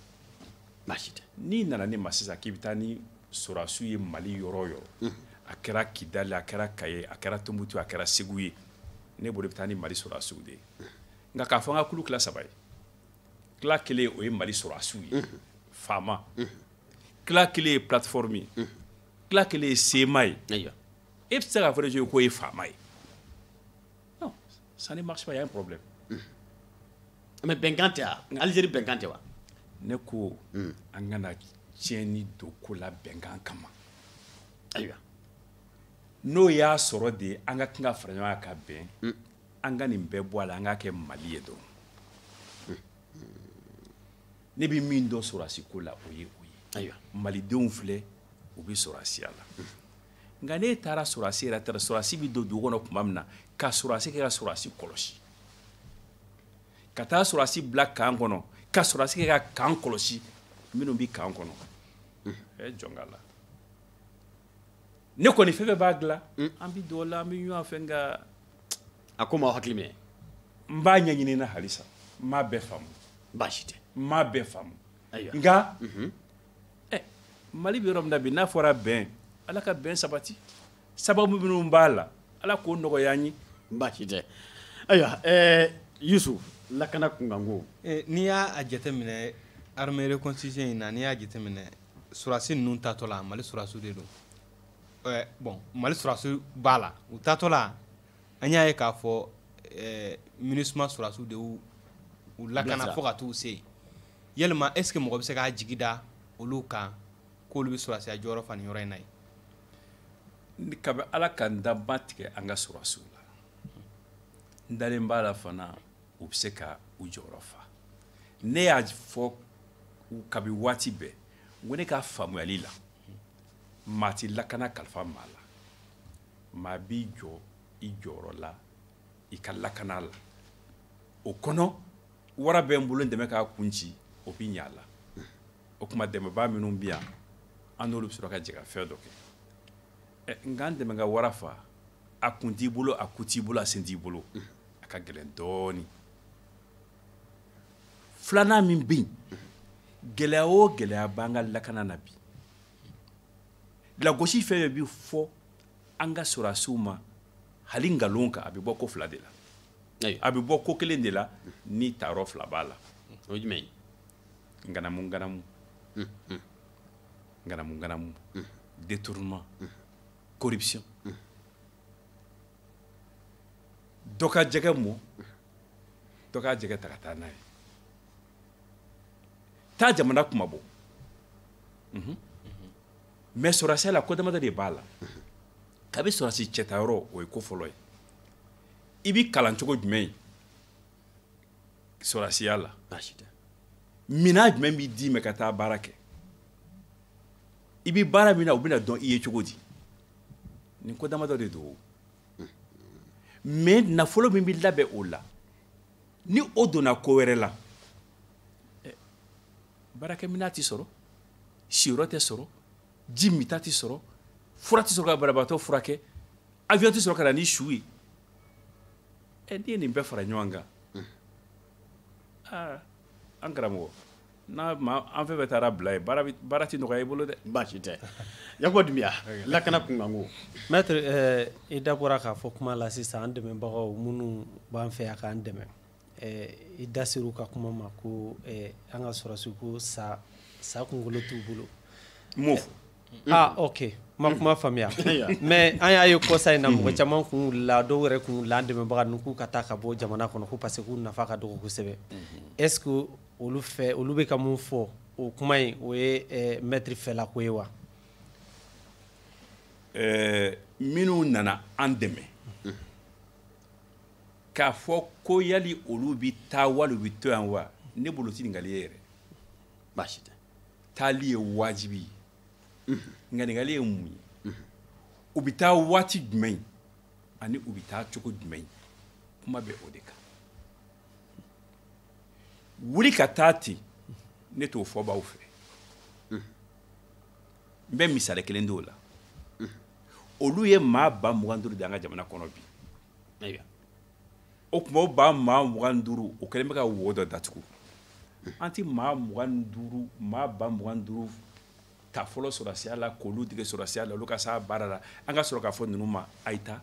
baasi tɛ n'i nana ne ma sisan k'i bɛ taa ni sɔrɔsiw ye mali yɔrɔ o yɔrɔ mm. a kɛra kidali a kɛra kaye a kɛra tumutu a kɛra segu ye ne bolo i bɛ taa ni mali sɔrɔsiw de ye mm. nka k'a fɔ an ka kulu tila saba ye tila kelen o ye mali sɔrɔsiw ye mm-hmm. FAMa mm-hmm. tila kelen ye plateforme ye mhm. tila kelen ye CMA ye e bɛ se k'a fɔ de k'o ye FAMA ye non ça ne marche pas il y a un problème mhm. mais bɛnkan tɛ wa Algérie bɛnkan tɛ wa ne ko mhm. an kana tiɲɛni don ko la bɛnkan kama ayiwa n'o y'a sɔrɔ de an ka kan ka fara ɲɔgɔn kan ka bɛn mm. an ka nin bɛɛ bɔ a la an k'a kɛ mali ye dɔrɔn ne bɛ min dɔn sɔrɔdasi ko la o ye o ye ayiwa malidenw filɛ u bɛ sɔrɔdasiya la nka n'e taara sɔrɔdasi yɛrɛ taara sɔrɔdasi bɛ don dugu kɔnɔ tuma min na ka sɔrɔdasi kɛ ka sɔrɔdasi kɔlɔsi ka taa sɔrɔdasi bila kan kɔnɔ ka sɔrɔdasi kɛ ka kan kɔlɔsi minnu bɛ kan kɔnɔ ɛ jɔn k'a la ne kɔni fɛn fɛn b'a dilan mm. an bɛ don o la an bɛ ɲɔgɔn fɛ nka a ko ma hakili minɛ n b'a ɲɛɲini na halisa n m'a bɛɛ faamu baasi tɛ n m'a bɛɛ faamu nka mhm. eh, mali bɛ yɔrɔ min na bi n'a fɔra bɛn ala ka bɛn sabati sababu minnu b'a la ala k'o nɔgɔya an ye baasi tɛ ayiwa eh, yusufu lakana kunkanko eh, n'i y'a jateminɛ armée reconstitution in na n'i y'a jateminɛ sɔrɔdasi ninnu taatɔ la mali sɔrɔdasiw de don eh, bon mali sɔrɔdasiw b'a la u taatɔ la an y'a ye k'a fɔ eh, minusima sɔrɔdasiw de y'u u lakana fo ka t'u se yalima est ce que mɔgɔ bɛ se k'a jigi da olu kan k'olu bɛ sɔrɔdasiya jɔyɔrɔ fa nin yɔrɔ in na yen kabi ala ka n dan n ma tigɛ an ka sɔrɔdasiw la n dalen b'a la fana u bɛ se ka u jɔyɔrɔ fa ne y'a fɔ kabi waati bɛɛ ko ne ka faamuyali la maa tɛ lakana kalifa maa la maa b'i jɔ i jɔyɔrɔ la i ka lakana la o kɔnɔ wara bɛ n bolo n dɛmɛ k'a kun ci o bɛ ɲa a la o tuma dɛmɛbaa minnu bɛ yan an n'olu bɛ sɔrɔ ka jɛ ka fɛn dɔ kɛ nka n dɛmɛ ka wara faa a kun t'i bolo a ku t'i bolo a sen t'i bolo a ka gɛlɛn dɔɔnin filanan min bɛ yen gɛlɛya o gɛlɛya b'an ka lakana na bi lagosi fɛn fɛn bɛ fɔ an ka sɔrɔdasiw ma hali nkalon kan a bɛ bɔ ko fila de la a bɛ bɔ ko kelen de la ni taayɔrɔ fila b'a la o ye jumɛn ye nganamu nganamu hmm, hmm. nganamu nganamu hmm. détournement corruption dɔ ka jɛgɛ mɔ dɔ ka jɛgɛ ta ka taa n'a ye taa jamana kuma bɔ mhm. mais sɔrɔsiya la ko damadɔ de b'a la kabi sɔrɔsi cɛtayɔrɔ o ye ko fɔlɔ ye i bi kalan cogo jumɛn ye sɔrɔsiya la minan jumɛn bi d'i ma ka taa baara kɛ i bi baara min na u bɛna dɔn i ye cogo di nin ko damadɔ de don mais nafolo min bɛ labɛn o la ni o donna ko wɛrɛ la eh, baarakɛminɛn tɛ sɔrɔ siyɔrɔ tɛ sɔrɔ ji minta tɛ sɔrɔ fura tɛ sɔrɔ ka banabaatɔ furakɛ avion tɛ sɔrɔ ka na ni su ye ɛ eh, n'i ye nin bɛɛ fara ɲɔgɔn kan aa ah, an karamɔgɔ n'a ma an fɛn fɛn taara bila ye baara baara tɛ nɔgɔya i bolo dɛ baasi tɛ yakuba dunbiya lakana kunkanko maître eh, i da bɔra k'a fɔ kuma la sisan an dɛmɛbagaw minnu b'an fɛ yan k'an dɛmɛ eh, i da ser'u ka kuma ma ko eh, an ka sɔrɔsi ko sa kunkolo t'u bolo n m'o fɔ ah ok n ma kuma faamuya mais an y'a ye kɔsa in na mɔgɔ caman kun wulila dɔw yɛrɛ kun wulila an dɛmɛbaga ninnu k'u ka taa ka bɔ jamana kɔnɔ ko parce que k'u nafa ka dɔgɔ kosɛbɛ est ce que olu fɛ olu bɛ ka mun fɔ o kuma in o ye eh, maître fɛla ko ye wa eh, minnu nana an dɛmɛ k'a fɔ ko yali olu bɛ taa wali u bɛ to yan wa ne bolo ti ɲininkali ye yɛrɛ baasi tɛ taali ye wajibi ye mhm. nka ɲininkali ye mun ye mhm. u bɛ taa waati jumɛn ani u bɛ taa cogo jumɛn kuma bɛ o de kan wuli ka taa ten ne t'o fɔbaaw fɛ n bɛ misali kelen di o la olu ye maa ba mugan duuru de an ka jamana kɔnɔ bi o tuma o ba maa mugan duuru o kɛlen bɛ ka wo dɔ datugu an tɛ maa mugan duuru maa ba mugan duuru ta fɔlɔ sɔrɔsiya la k'olu dege sɔrɔsiya la olu ka s'a baara la an ka sɔrɔ k'a fɔ ninnu ma a ye taa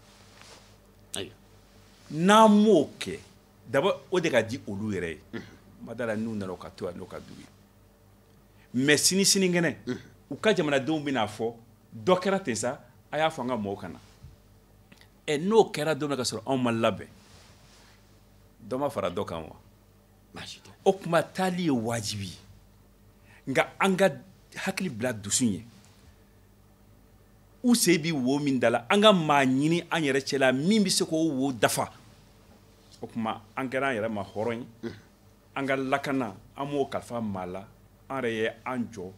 n'an m'o kɛ d'abord o de ka di olu yɛrɛ ye ma d'a la n'u nana ka to yan n'o ka d'u ye mais sini sinikɛnɛ u ka jamanadenw bɛna fɔ dɔ kɛra ten sa a y'a fɔ an ka mɔgɔw ka na ɛ n'o kɛra don min na ka sɔrɔ anw ma labɛn dɔ ma fara dɔ kan wa o tuma taali ye wajibi ye nka an ka hakili bila dusu ɲɛ u sen bi wo min da la an ka maa ɲini an yɛrɛ cɛla min bɛ se k'o wo dafa o tuma an kɛra an yɛrɛ ma hɔrɔn ye mm. an ka lakana an m'o kalifa maa la an yɛrɛ ye an jɔ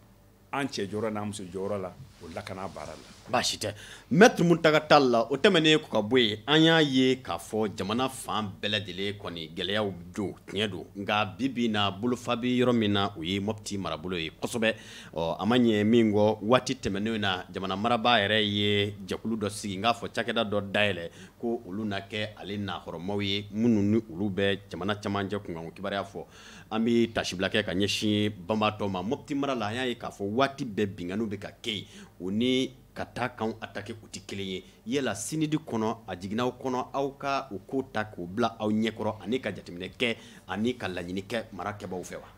an cɛ jɔyɔrɔ n'an muso jɔyɔrɔ la o lakana baara la baasi tɛ maître mountaga tall la o tɛmɛnen kɔ ka bɔ yen an y'a ye k'a fɔ jamana fan bɛɛ lajɛlen kɔni gɛlɛyaw don tiɲɛ don nka bi bi na bolofa bɛ yɔrɔ min na o ye mɔpiti marabolo ye kosɛbɛ ɔ a ma ɲɛ min kɔ waati tɛmɛnen na jamana marabaa yɛrɛ ye jɛkulu dɔ sigi n k'a fɔ cakɛda dɔ dayɛlɛ ko olu na kɛ ale nahɔrɔmaw ye minnu ni olu bɛ jamana camancɛ kunkanko kibaruya fɔ an bɛ tasibila kɛ ka ɲɛsin banbaatɔ ma mɔpiti mara la an y'a ye k'a fɔ waati bɛɛ binkanniw bɛ ka kɛ yen o ni ka taa kanw attaquer u tɛ kelen ye yala sinidi kɔnɔ a jiginn'aw kɔnɔ aw ka o ko ta k'o bila aw ɲɛkɔrɔ ani ka jateminɛ kɛ ani ka laɲini kɛ mara kɛbaw fɛ wa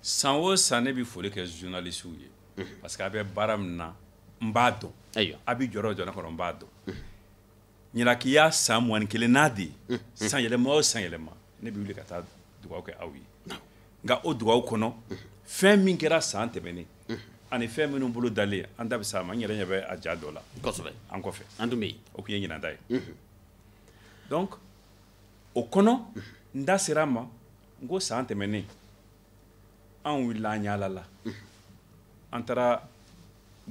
san o san ne bɛ foli kɛ journalistew ye parce que a bɛ baara min na n b'a dɔn a bɛ jɔyɔrɔ jɔn kɔnɔ n b'a dɔn ɲinan k'i y'a san mugan ni kelennan de ye san yɛlɛma o san yɛlɛma ne bɛ wuli ka taa dugawu kɛ aw ye nka o dugawu kɔnɔ fɛn min kɛra san tɛmɛnen ani fɛn minnu bolodalen an da bɛ s'a ma n yɛrɛ ɲɛ bɛ a ja dɔ la kosɛbɛ an kɔfɛ an tun bɛ yen o tun ye ɲinan ta ye donc o kɔnɔ n da sera a ma n ko san tɛmɛnen an wulila an yaalala an taara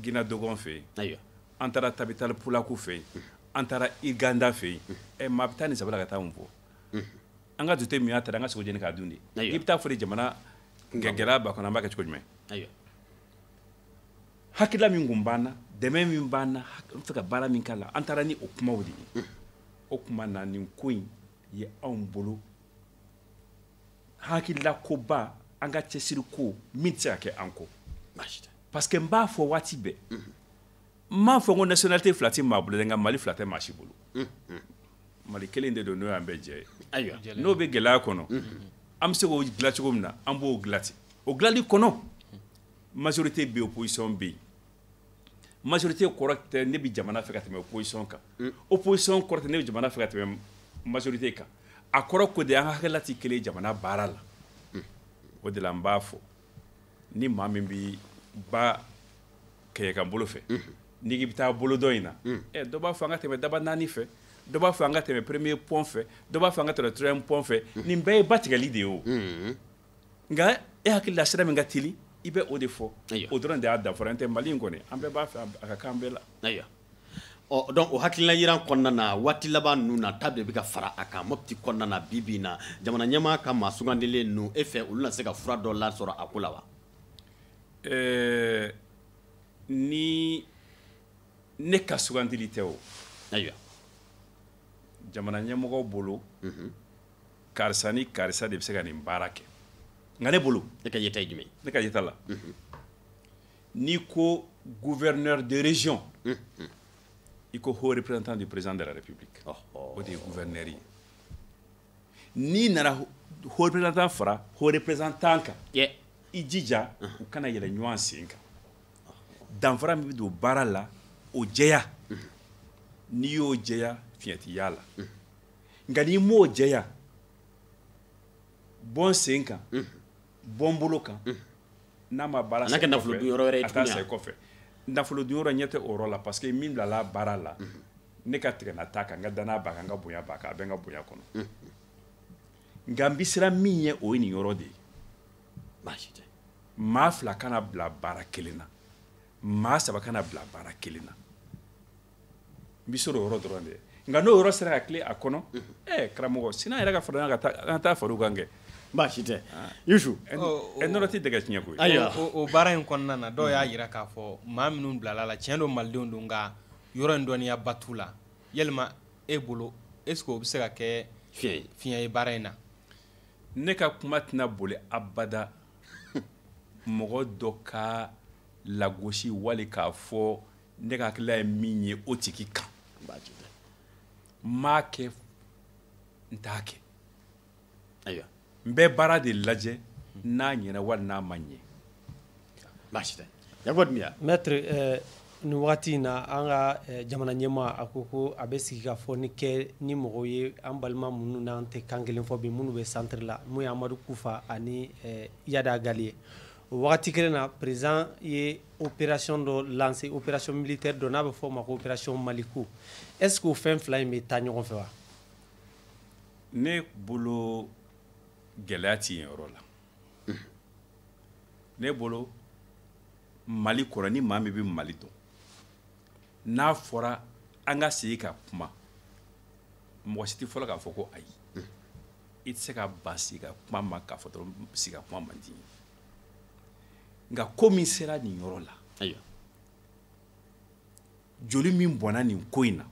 gina dogon fɛ yen an taara tabitali pulaku fɛ yen an taara irganda fɛ yen ɛ maa bɛ taa nin saba la ka taa mun fɔ an ka dute min y'a taara an ka sogo jeni k'a dun de i bɛ taa fɔ de jamana gɛlɛya b'a kɔnɔ an b'a kɛ cogo jumɛn hakilila min kun b'an na dɛmɛ min b'an na an fɛ ka baara min k'a la an taara ni o kumaw de ye o kuma na nin ko in ye anw bolo hakilila koba an ka cɛsiri ko min tɛ se ka kɛ an kɔ parce que n b'a fɔ waati bɛɛ n m'a fɔ ko nationalité fila tɛ maa bolo dɛ nka mali fila tɛ maa si bolo mali kelen de don n'o y'an bɛɛ jɛ ye ayiwa n'o bɛ gɛlɛya kɔnɔ an bɛ se k'o dilan cogo min na an b'o dilan ten o dilanli kɔnɔ majorité bɛ yen opposition bɛ yen majorité kɔrɔ tɛ ne bɛ jamana fɛ ka tɛmɛ opposition kan mm. opposition kɔrɔ tɛ ne bɛ jamana fɛ ka tɛmɛ majorité kan a kɔrɔ ko de an ka hakilila tɛ kelen ye jamana baara la mm. o de la n b'a fɔ ni maa min bɛ ba kɛɲɛkan bolo fɛ mm-hmm. n'i k'i bɛ taa bolo dɔ in na mm. ɛ dɔ b'a fɔ an ka tɛmɛ dabanani fɛ dɔ b'a fɔ an ka tɛmɛ premier pont fɛ dɔ b'a fɔ an ka tɛmɛ troisième pont fɛ nin bɛɛ ye ba tigɛli de ye o nka e hakili la sira min ka teli i bɛ o de fɔ o dɔrɔn de y'a danfara n'o tɛ mali in kɔni an bɛɛ b'a fɛ a ka kan bɛɛ la ayiwa ɔ donc o hakilila yiran kɔnɔna na waati laban ninnu na ta de bɛ ka fara a kan mopti kɔnɔna na bi bi in na jamana ɲɛmaa ka maa sugandilen ninnu e fɛ olu na se ka fura dɔ lasɔrɔ a ko la wa ni ne ka sugandili tɛ o ayiwa jamana ɲɛmɔgɔ bolo karisa ni karisa de bɛ se ka nin baara kɛ nka ne bolo ne ka yeta ye jumɛn ne ka yeta la mhm. n'i ko gouverneur de région mhm. i ko haut représentant du président de la république oh, oh. o de ye gouverneur ye n'i nana haut représentant fara haut représentant kan i jija mhm. u kana yɛlɛ ɲɔgɔn sen kan danfara min bɛ don baara la o jɛya n'i y'o jɛya fiɲɛ tɛ y'a la nka n'i m'o jɛya bɔn sen kan bɔn bolo kan n'a ma baara sa kɛ nafolo dun yɔrɔ wɛrɛ ye a taa tuguni sa wa? kɔfɛ nafolo dun yɔrɔ ne tɛ o yɔrɔ la parce que min bilala baara la ne ka tigɛna t'a kan n ka danaya b'a kan n ka bonya b'a kan a bɛ n ka bonya kɔnɔ nka n bɛ siran min ɲɛ o ye nin yɔrɔ de ye baasi tɛ maa fila kana bila baara kelen na maa saba kana bila baara kelen na n bɛ siran o yɔrɔ dɔrɔn de ɲɛ nka n'o yɔrɔ sera ka tilen a kɔnɔ ɛɛ karamɔgɔ sini an yɛrɛ ka fara ka taa an ka taa fara u kan kɛ baasi tɛ ah. yusu ɛ nɔnɔ tɛ dɛgɛ tiɲɛ koyi ayiwa o baara in kɔnɔna na dɔw y'a jira k'a fɔ maa minnu bilala a la tiɲɛ don malidenw don nka yɔrɔ in dɔnniya ba t'u la yalima e bolo est ce que o bɛ se ka kɛ fiɲɛ ye baara in na ne ka kuma tɛna boli abada mɔgɔ dɔ ka lagosi wali k'a fɔ ne ka hakilila ye min ye o tigi kan ayi n m'a kɛ n t'a kɛ ayiwa n bɛ baara de lajɛ n'a ɲɛna wali n'a ma ɲɛ baasi tɛ yakuba dunbiya maître eh, nin wagati in na an ka eh, jamana ɲɛmaa a ko ko a bɛ sigikafɔ nin kɛ ni mɔgɔw ye an balima minnu n'an tɛ kan kelen fɔ bi minnu bɛ centre la mun ye amadu kufa ani eh, iyad ag ghali ye o wagati kelen na président ye opération dɔ lancé opération militaire dɔ n'a bɛ fɔ o ma ko opération maliko est ce que o fɛn fila in bɛ taa ɲɔgɔn fɛ wa ne bolo gɛlɛya tɛ nin yɔrɔ la ne bolo mali kɔnɔ ni maa min bɛ mali dɔn n'a fɔra an ka sigi ka kuma mɔgɔ si tɛ fɔlɔ k'a fɔ ko ayi i tɛ se ka ban sigi ka kuma ma k'a fɔ dɔrɔn sigi ka kuma man di nka ko min sera nin yɔrɔ la ayiwa joli min bɔnna nin ko in na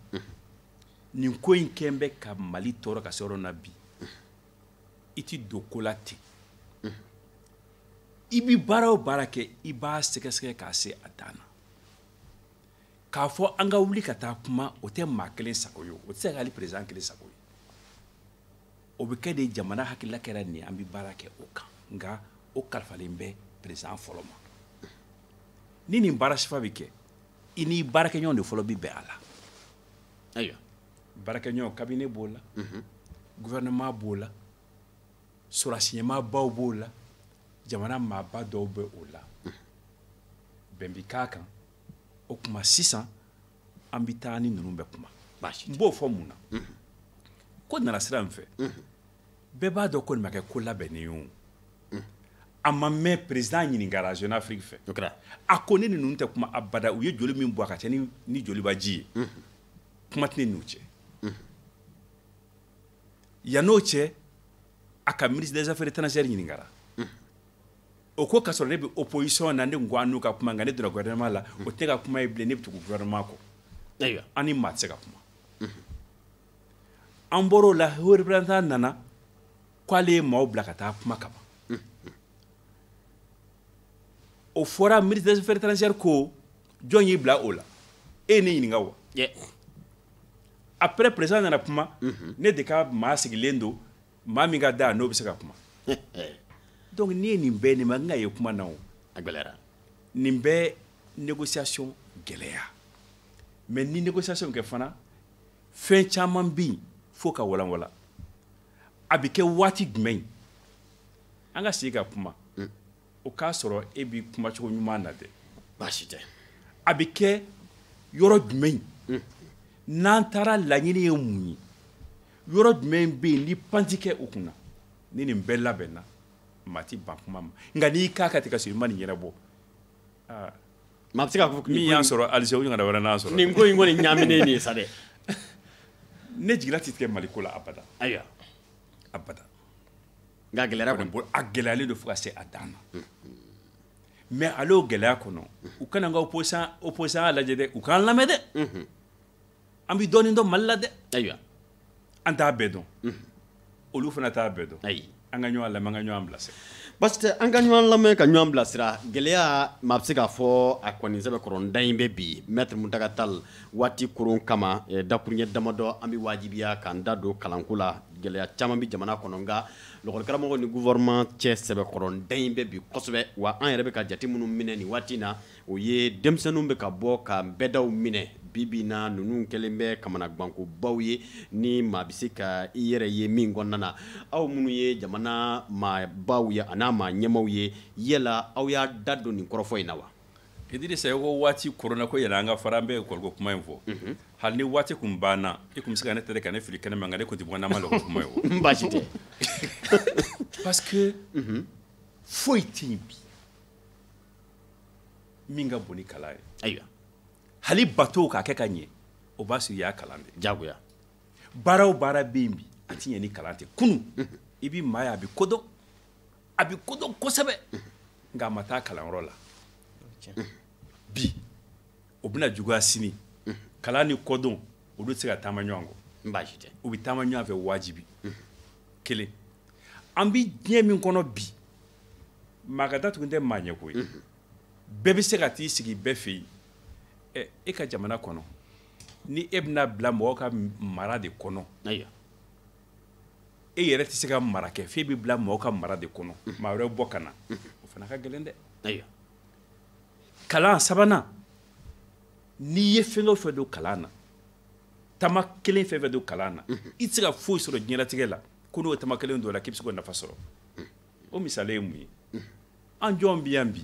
nin ko in kɛn bɛ ka mali tɔɔrɔ ka se yɔrɔ na bi i ti don ko la ten i bi baara o baara kɛ i b'a sɛgɛsɛgɛ k'a se a dan na k'a fɔ an ka wuli ka taa kuma o tɛ maa kelen sago ye o tɛ se ka hali président kelen sago ye o bɛ kɛ de jamana hakilila kɛra nin an bɛ baara kɛ o kan nka o kalifalen bɛ président fɔlɔ ma ni nin baara sifa bɛ kɛ i n'i baarakɛɲɔgɔn de fɔlɔ bɛ bɛn a la ayiwa baarakɛɲɔgɔn cabinet b'o la mhm. gouvernement b'o la sɔrɔdasi ɲɛmaabaw b'o la jamana maaba dɔw bɛ o la mhm. bɛn bɛ k'a kan o tuma sisan an bɛ taa ni ninnu bɛ kuma n b'o fɔ mun na ko nana sira min fɛ bɛɛ b'a dɔn ko nin ma kɛ ko labɛnnen ye o a ma mɛn président ɲininkara jeune afrique fɛ a ko ne ni ninnu tɛ kuma abada u ye joli min bɔ a ka ca ni, ni joliba ji ye mm -hmm. kuma tɛ ne n'u cɛ mm -hmm. yann'o cɛ a ka ministre des affaires étrangères ɲininkara mm -hmm. o ko k'a sɔrɔ ne bɛ opposition na ne ko an n'u ka kuma nka ne donna gouvernement la o tɛ ne ka kuma ye bilen ne bɛ tugu gouvernement kɔ ayiwa an ni maa tɛ se ka kuma an bɔr'o la haut représentant nana k'ale ye maaw bila ka taa kuma kama o fɔra ministre des affaires étrangères ko jɔn y'i bila o la e ye ne ɲininka wa après président nana kuma ne de ka maa sigilen don maa min ka da n'o bɛ se ka kuma donc n'i ye nin bɛɛ nin ma n ka ye kuma na o a gɛlɛyara nin bɛ négociation gɛlɛya mais ni négociation kɛ fana fɛn caman bɛ yen fo ka walanwala a bɛ kɛ waati jumɛn an ka sigi ka kuma o k'a sɔrɔ e b'i kumacogo ɲuman na dɛ baasi tɛ a bɛ kɛ yɔrɔ jumɛn hmm. n'an taara laɲini ye mun ye yɔrɔ jumɛn bɛ yen ni pan tɛ kɛ o kunna ni nin bɛɛ labɛnna maa ti ban kuma ma nka n'i k'a ka tigɛ ka sɔrɔ i ma nin ɲɛnabɔ aa maa bɛ se k'a fɔ min y'an sɔrɔ alger o ɲɔgɔnna wɛrɛ n'an sɔrɔ nin ko in kɔni ɲaaminen nin ye sa dɛ ne jigila tɛ tigɛ mali ko la abada ayiwa abada nka gɛlɛya kɔni b'o la a gɛlɛyalen don fo ka se a dan na mais hali o gɛlɛya kɔnɔ u kan'an ka opposition opposantya lajɛ dɛ u k'an lamɛn dɛ an bɛ dɔɔnin dɔn mali la dɛ ayiwa an t'a bɛɛ dɔn olu fana t'a bɛɛ dɔn ayi an ka ɲɔgɔn lamɛn an ka ɲɔgɔn bilasira parce que an ka ɲɔgɔn lamɛn ka ɲɔgɔn bilasira gɛlɛya maa bɛ se k'a fɔ a kɔni sɛbɛ kɔrɔ n da in bɛ bi mɛtiri muntaga tali waati koron kama eh, dakuruɲɛ damadɔ an bɛ wajibiya k'an da don kalanko la gɛlɛya caman bɛ jamana kɔnɔ nka lɔgɔlikaramɔgɔw ni gouvernement cɛ sɛbɛkɔrɔnda in bɛ bi kosɛbɛ wa an yɛrɛ bɛ ka jate minnu minɛ nin waati in na o ye denmisɛnninw bɛ ka bɔ ka bɛdaw minɛ bibi na ninnu kɛlen bɛ kamanagwankobaw ye ni maa bɛ se ka i yɛrɛ ye min kɔnɔna na aw minnu ye jamana maabaw ye an'a maa ɲɛmaw ye yala aw y'a da don nin kɔrɔfɔ in na wa Idirisa ko waati koronna ko yɛlɛ an ka fara an bɛ école ko kuma in fɔ hali ni waati kun banna i kun bɛ se ka ne tɛrɛ ka ne fili kɛnɛ ma nka ne kun tɛ bɔ n'an ma l'école kuma ye baasi tɛ parce que foyi tɛ yen bi min ka bon ni kalan ye ayiwa hali bato k'a kɛ ka ɲɛ o b'a sɔrɔ i y'a kalan de jagoya baara o baara bɛ yen bi a tɛ ɲɛ ni kalan tɛ kunun i bɛ maa ye a bɛ ko dɔn a bɛ ko dɔn kosɛbɛ nka a ma taa kalanyɔrɔ la bi o bɛna juguya sini kalan ni kodɔn olu tɛ se ka taama ɲɔgɔn kɔ baasi tɛ u bɛ taama ɲɔgɔn fɛ wajibi kelen an bɛ diɲɛ min kɔnɔ bi maa ka datugu tɛ maa ɲɛko ye bɛɛ bɛ se ka t'i sigi bɛɛ fɛ yen ɛ e ka jamana kɔnɔ ni e bɛna bila mɔgɔ ka mara de kɔnɔ ayiwa e yɛrɛ tɛ se ka mara kɛ f'e bɛ bila mɔgɔ ka mara de kɔnɔ maa wɛrɛ bɔ ka na o fana ka gɛlɛn dɛ ayiwa kalan sabanan n'i ye fɛn o fɛn don kalan na tama kelen fɛn o fɛn don kalan na i tɛ se ka foyi sɔrɔ diɲɛlatigɛ la ko n'o tama kelen don la k'i bɛ se k'o nafa sɔrɔ o misali ye mun ye an jɔn bɛ yan bi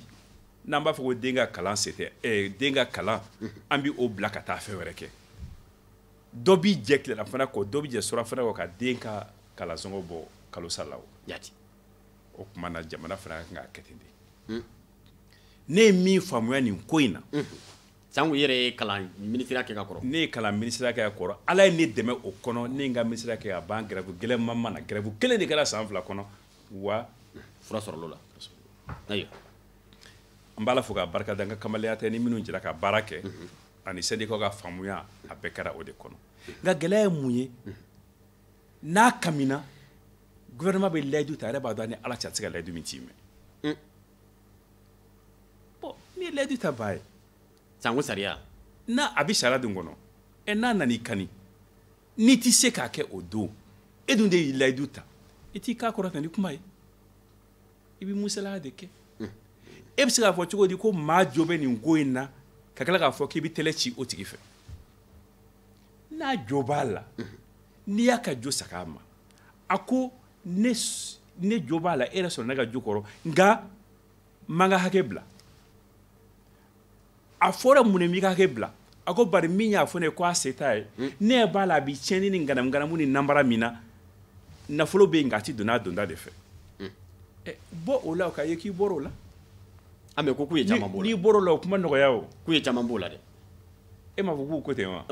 n'an b'a fɔ ko den ka kalan se tɛ eh, den ka kalan an bɛ o bila ka taa fɛn wɛrɛ kɛ dɔ b'i jɛ tilelafana kɔ dɔ b'i jɛ surafana kɔ ka den ka kalansɔngɔ bɔ kalo sa la o jati o tuma na jamana fana ka kan k'a kɛ ten de hmm. ne ye min faamuya nin ko in na hmm. sango yɛrɛ ye kalan minisiriya kɛ ka kɔrɔ ne ye kalan minisiriya kɛ ka kɔrɔ ala ye ne dɛmɛ o kɔnɔ ne ye n ka minisiriya kɛ ka ban gɛrɛfu gɛlɛnman ma na gɛrɛfu kelen de kɛra san fila kɔnɔ wa fura sɔrɔl'o la ayiwa n b'ala fo k'a barika da n ka kamalenya tɛ n ni minnu jɛra ka baara kɛ hmm. ani sɛndikaw ka faamuya a bɛɛ kɛra o de kɔnɔ nka gɛlɛya ye mun ye n'a kamina gouvernement bɛ layidu ta a yɛrɛ b'a dɔn a ni ala cɛ a tɛ se ka layidu min tiimɛ mm. bon n'i ye layidutabaa ye sanko sariya n'a a bɛ sariya dun kɔnɔ ɛ n'a nan'i kani n'i tɛ se k'a kɛ o don e dun de y'i layidu ta i t'i kan kɔrɔta ni kuma ye i bɛ musalaya de kɛ e bɛ se k'a fɔ cogo di ko maa jo bɛ nin ko in na ka tila k'a fɔ k'i bɛ tɛlɛ ci o tigi fɛ n'a jo b'a la n'i y'a ka jo sag'a ma a ko ne ne jo b'a la e yɛrɛ sɔnna ne ka jo kɔrɔ nka n man ka hakɛ bila a fɔra munna i m'i ka kɛ bila a ko bari min y'a fɔ ne kɔ a se t'a ye hmm. ne ɲɛ b'a la a bi tiɲɛni ni ŋanamuŋanamu ni nanbara min na nafolo bɛ yen nka a tɛ don n'a donda de fɛ hmm. eh, bɔ o la o ka ye k'i bɔra o la an bɛ ko k'u ye caman b'o la n'i bɔra o la o kuma nɔgɔya o k'u ye caman b'o la dɛ e m'a fɔ k'u ko ten wa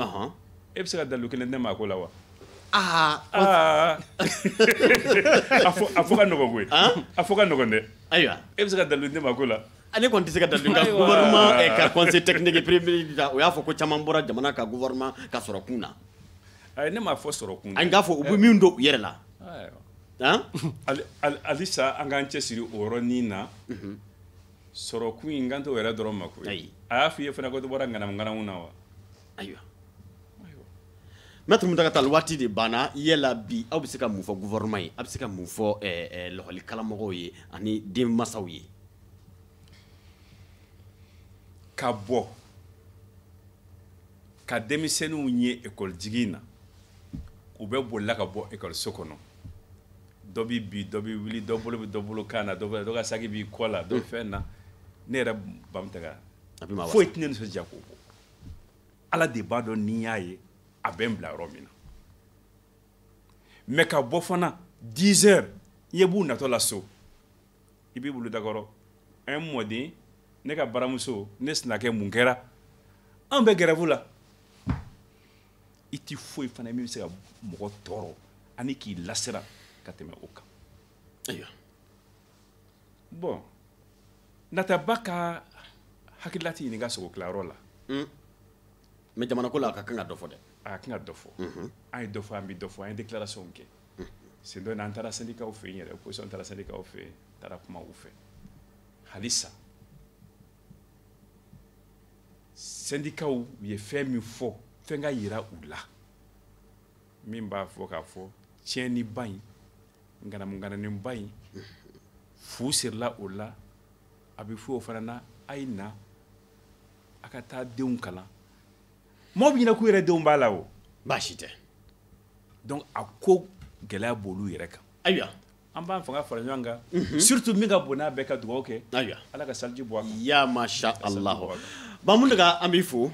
e bɛ se ka dalu kelen tɛ maa ko la wa aa ah. a fɔ ka nɔgɔn koyi a fɔ ka nɔgɔn dɛ ayiwa e bɛ se ka dalu tɛ maa ko la a ne kɔni tɛ se ka da nka gouvernement eh, ka conseil technique privé o y'a fɔ ko caman bɔra jamana ka gouvernement ka sɔrɔ kun na ayi ne m'a fɔ sɔrɔ kun an k'a fɔ u bɛ min don u yɛrɛ la halisa an k'an cɛsiri o yɔrɔnin na mhm. sɔrɔ kun in n kan t'o yɛrɛ dɔrɔn ma koyi a y'a f'i ye fana ko dɔ bɔra ŋanamu ŋanamu na wa ayiwa mɛtiri muntaka tali waati de banna yala bi aw bɛ se ka mun fɔ gouvernement ye a bɛ se ka mun fɔ eh, eh, lakɔli karamɔgɔw ye ani denmasaw ye ka bɔ ka denmisɛnninw ye ekɔli jigin na u bɛ bolila ka bɔ ekɔliso kɔnɔ dɔ bɛ bin dɔ bɛ wuli dɔ bolo bɛ dɔ bolo kan na dɔ bɛ dɔ ka saki b'i kɔ la dɔ bɛ fɛn na ne yɛrɛ ba muntaka foyi tɛ ne nisɔndiya k'o bɔ ala de b'a dɔn ni n y'a ye a bɛ n bila yɔrɔ min na mɛ ka bɔ fana 10 heures i ye b'u natɔ la so i b'i bolo dakɔrɔ n mɔden ne ka baramuso ne sinakɛ mun kɛra an bɛ gɛrɛfu la i ti foyi fana min bɛ se ka mɔgɔ tɔɔrɔ ani k'i lasiran ka tɛmɛ o kan ayiwa bɔn nataba ka hakilila tɛ ɲininka sogo tilayɔrɔ la hmm. mɛ jamanako la a ka kan ka dɔ fɔ dɛ a ka kan ka dɔ fɔ mhm. an ye dɔ fɔ an bɛ dɔ fɔ an ye déclaration kɛ mhm. sen dɔ in na an taara sendikaw fɛ yen yɛrɛ opposition taara sendikaw fɛ yen taara kuma u fɛ halisa sendikaw ye fɛn min fɔ fɛn k'a yira u la min b'a fɔ k'a fɔ tiɲɛniba in ŋanamuŋananiba in fu sirila o la a bɛ fɔ o fana na a ye na aw ka taa denw kalan mɔgɔ bɛ ɲinɛ k'u yɛrɛ denw b'a la o baasi tɛ donc a ko gɛlɛya b'olu yɛrɛ kan ayiwa an b'an fanga fara ɲɔgɔn kan mhm. surtout min ka bon n'a bɛɛ ka dugawu kɛ ayiwa ala ka saliji bɔ a kan ya masha allah ba muntaka an b'i fo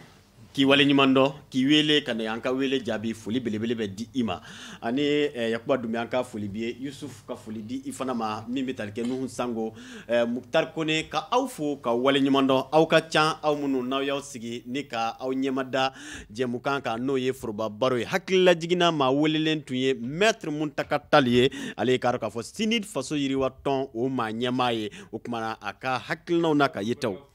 k'i wale ɲuman dɔn k'i wuli ka na an ka wele jaabi foli belebele bɛ di i ma ani eh, yakuba dunbiya an ka foli b'i ye yusuf ka foli di i fana ma min bɛ tali kɛ nuhu sango eh, muktar kone ka aw fo k'aw wale ɲuman dɔn aw ka ca aw minnu n'aw y'aw sigi ni ka aw ɲɛmada jɛmukan kan n'o ye foroba baro ye hakililajigin na maa welelen tun ye mɛtre muntaka tali ye ale ye k'a dɔn k'a fɔ CNID faso yiriwa tɔn o maa ɲɛmaa ye o kumana a ka hakilinaw n'a ka yetaw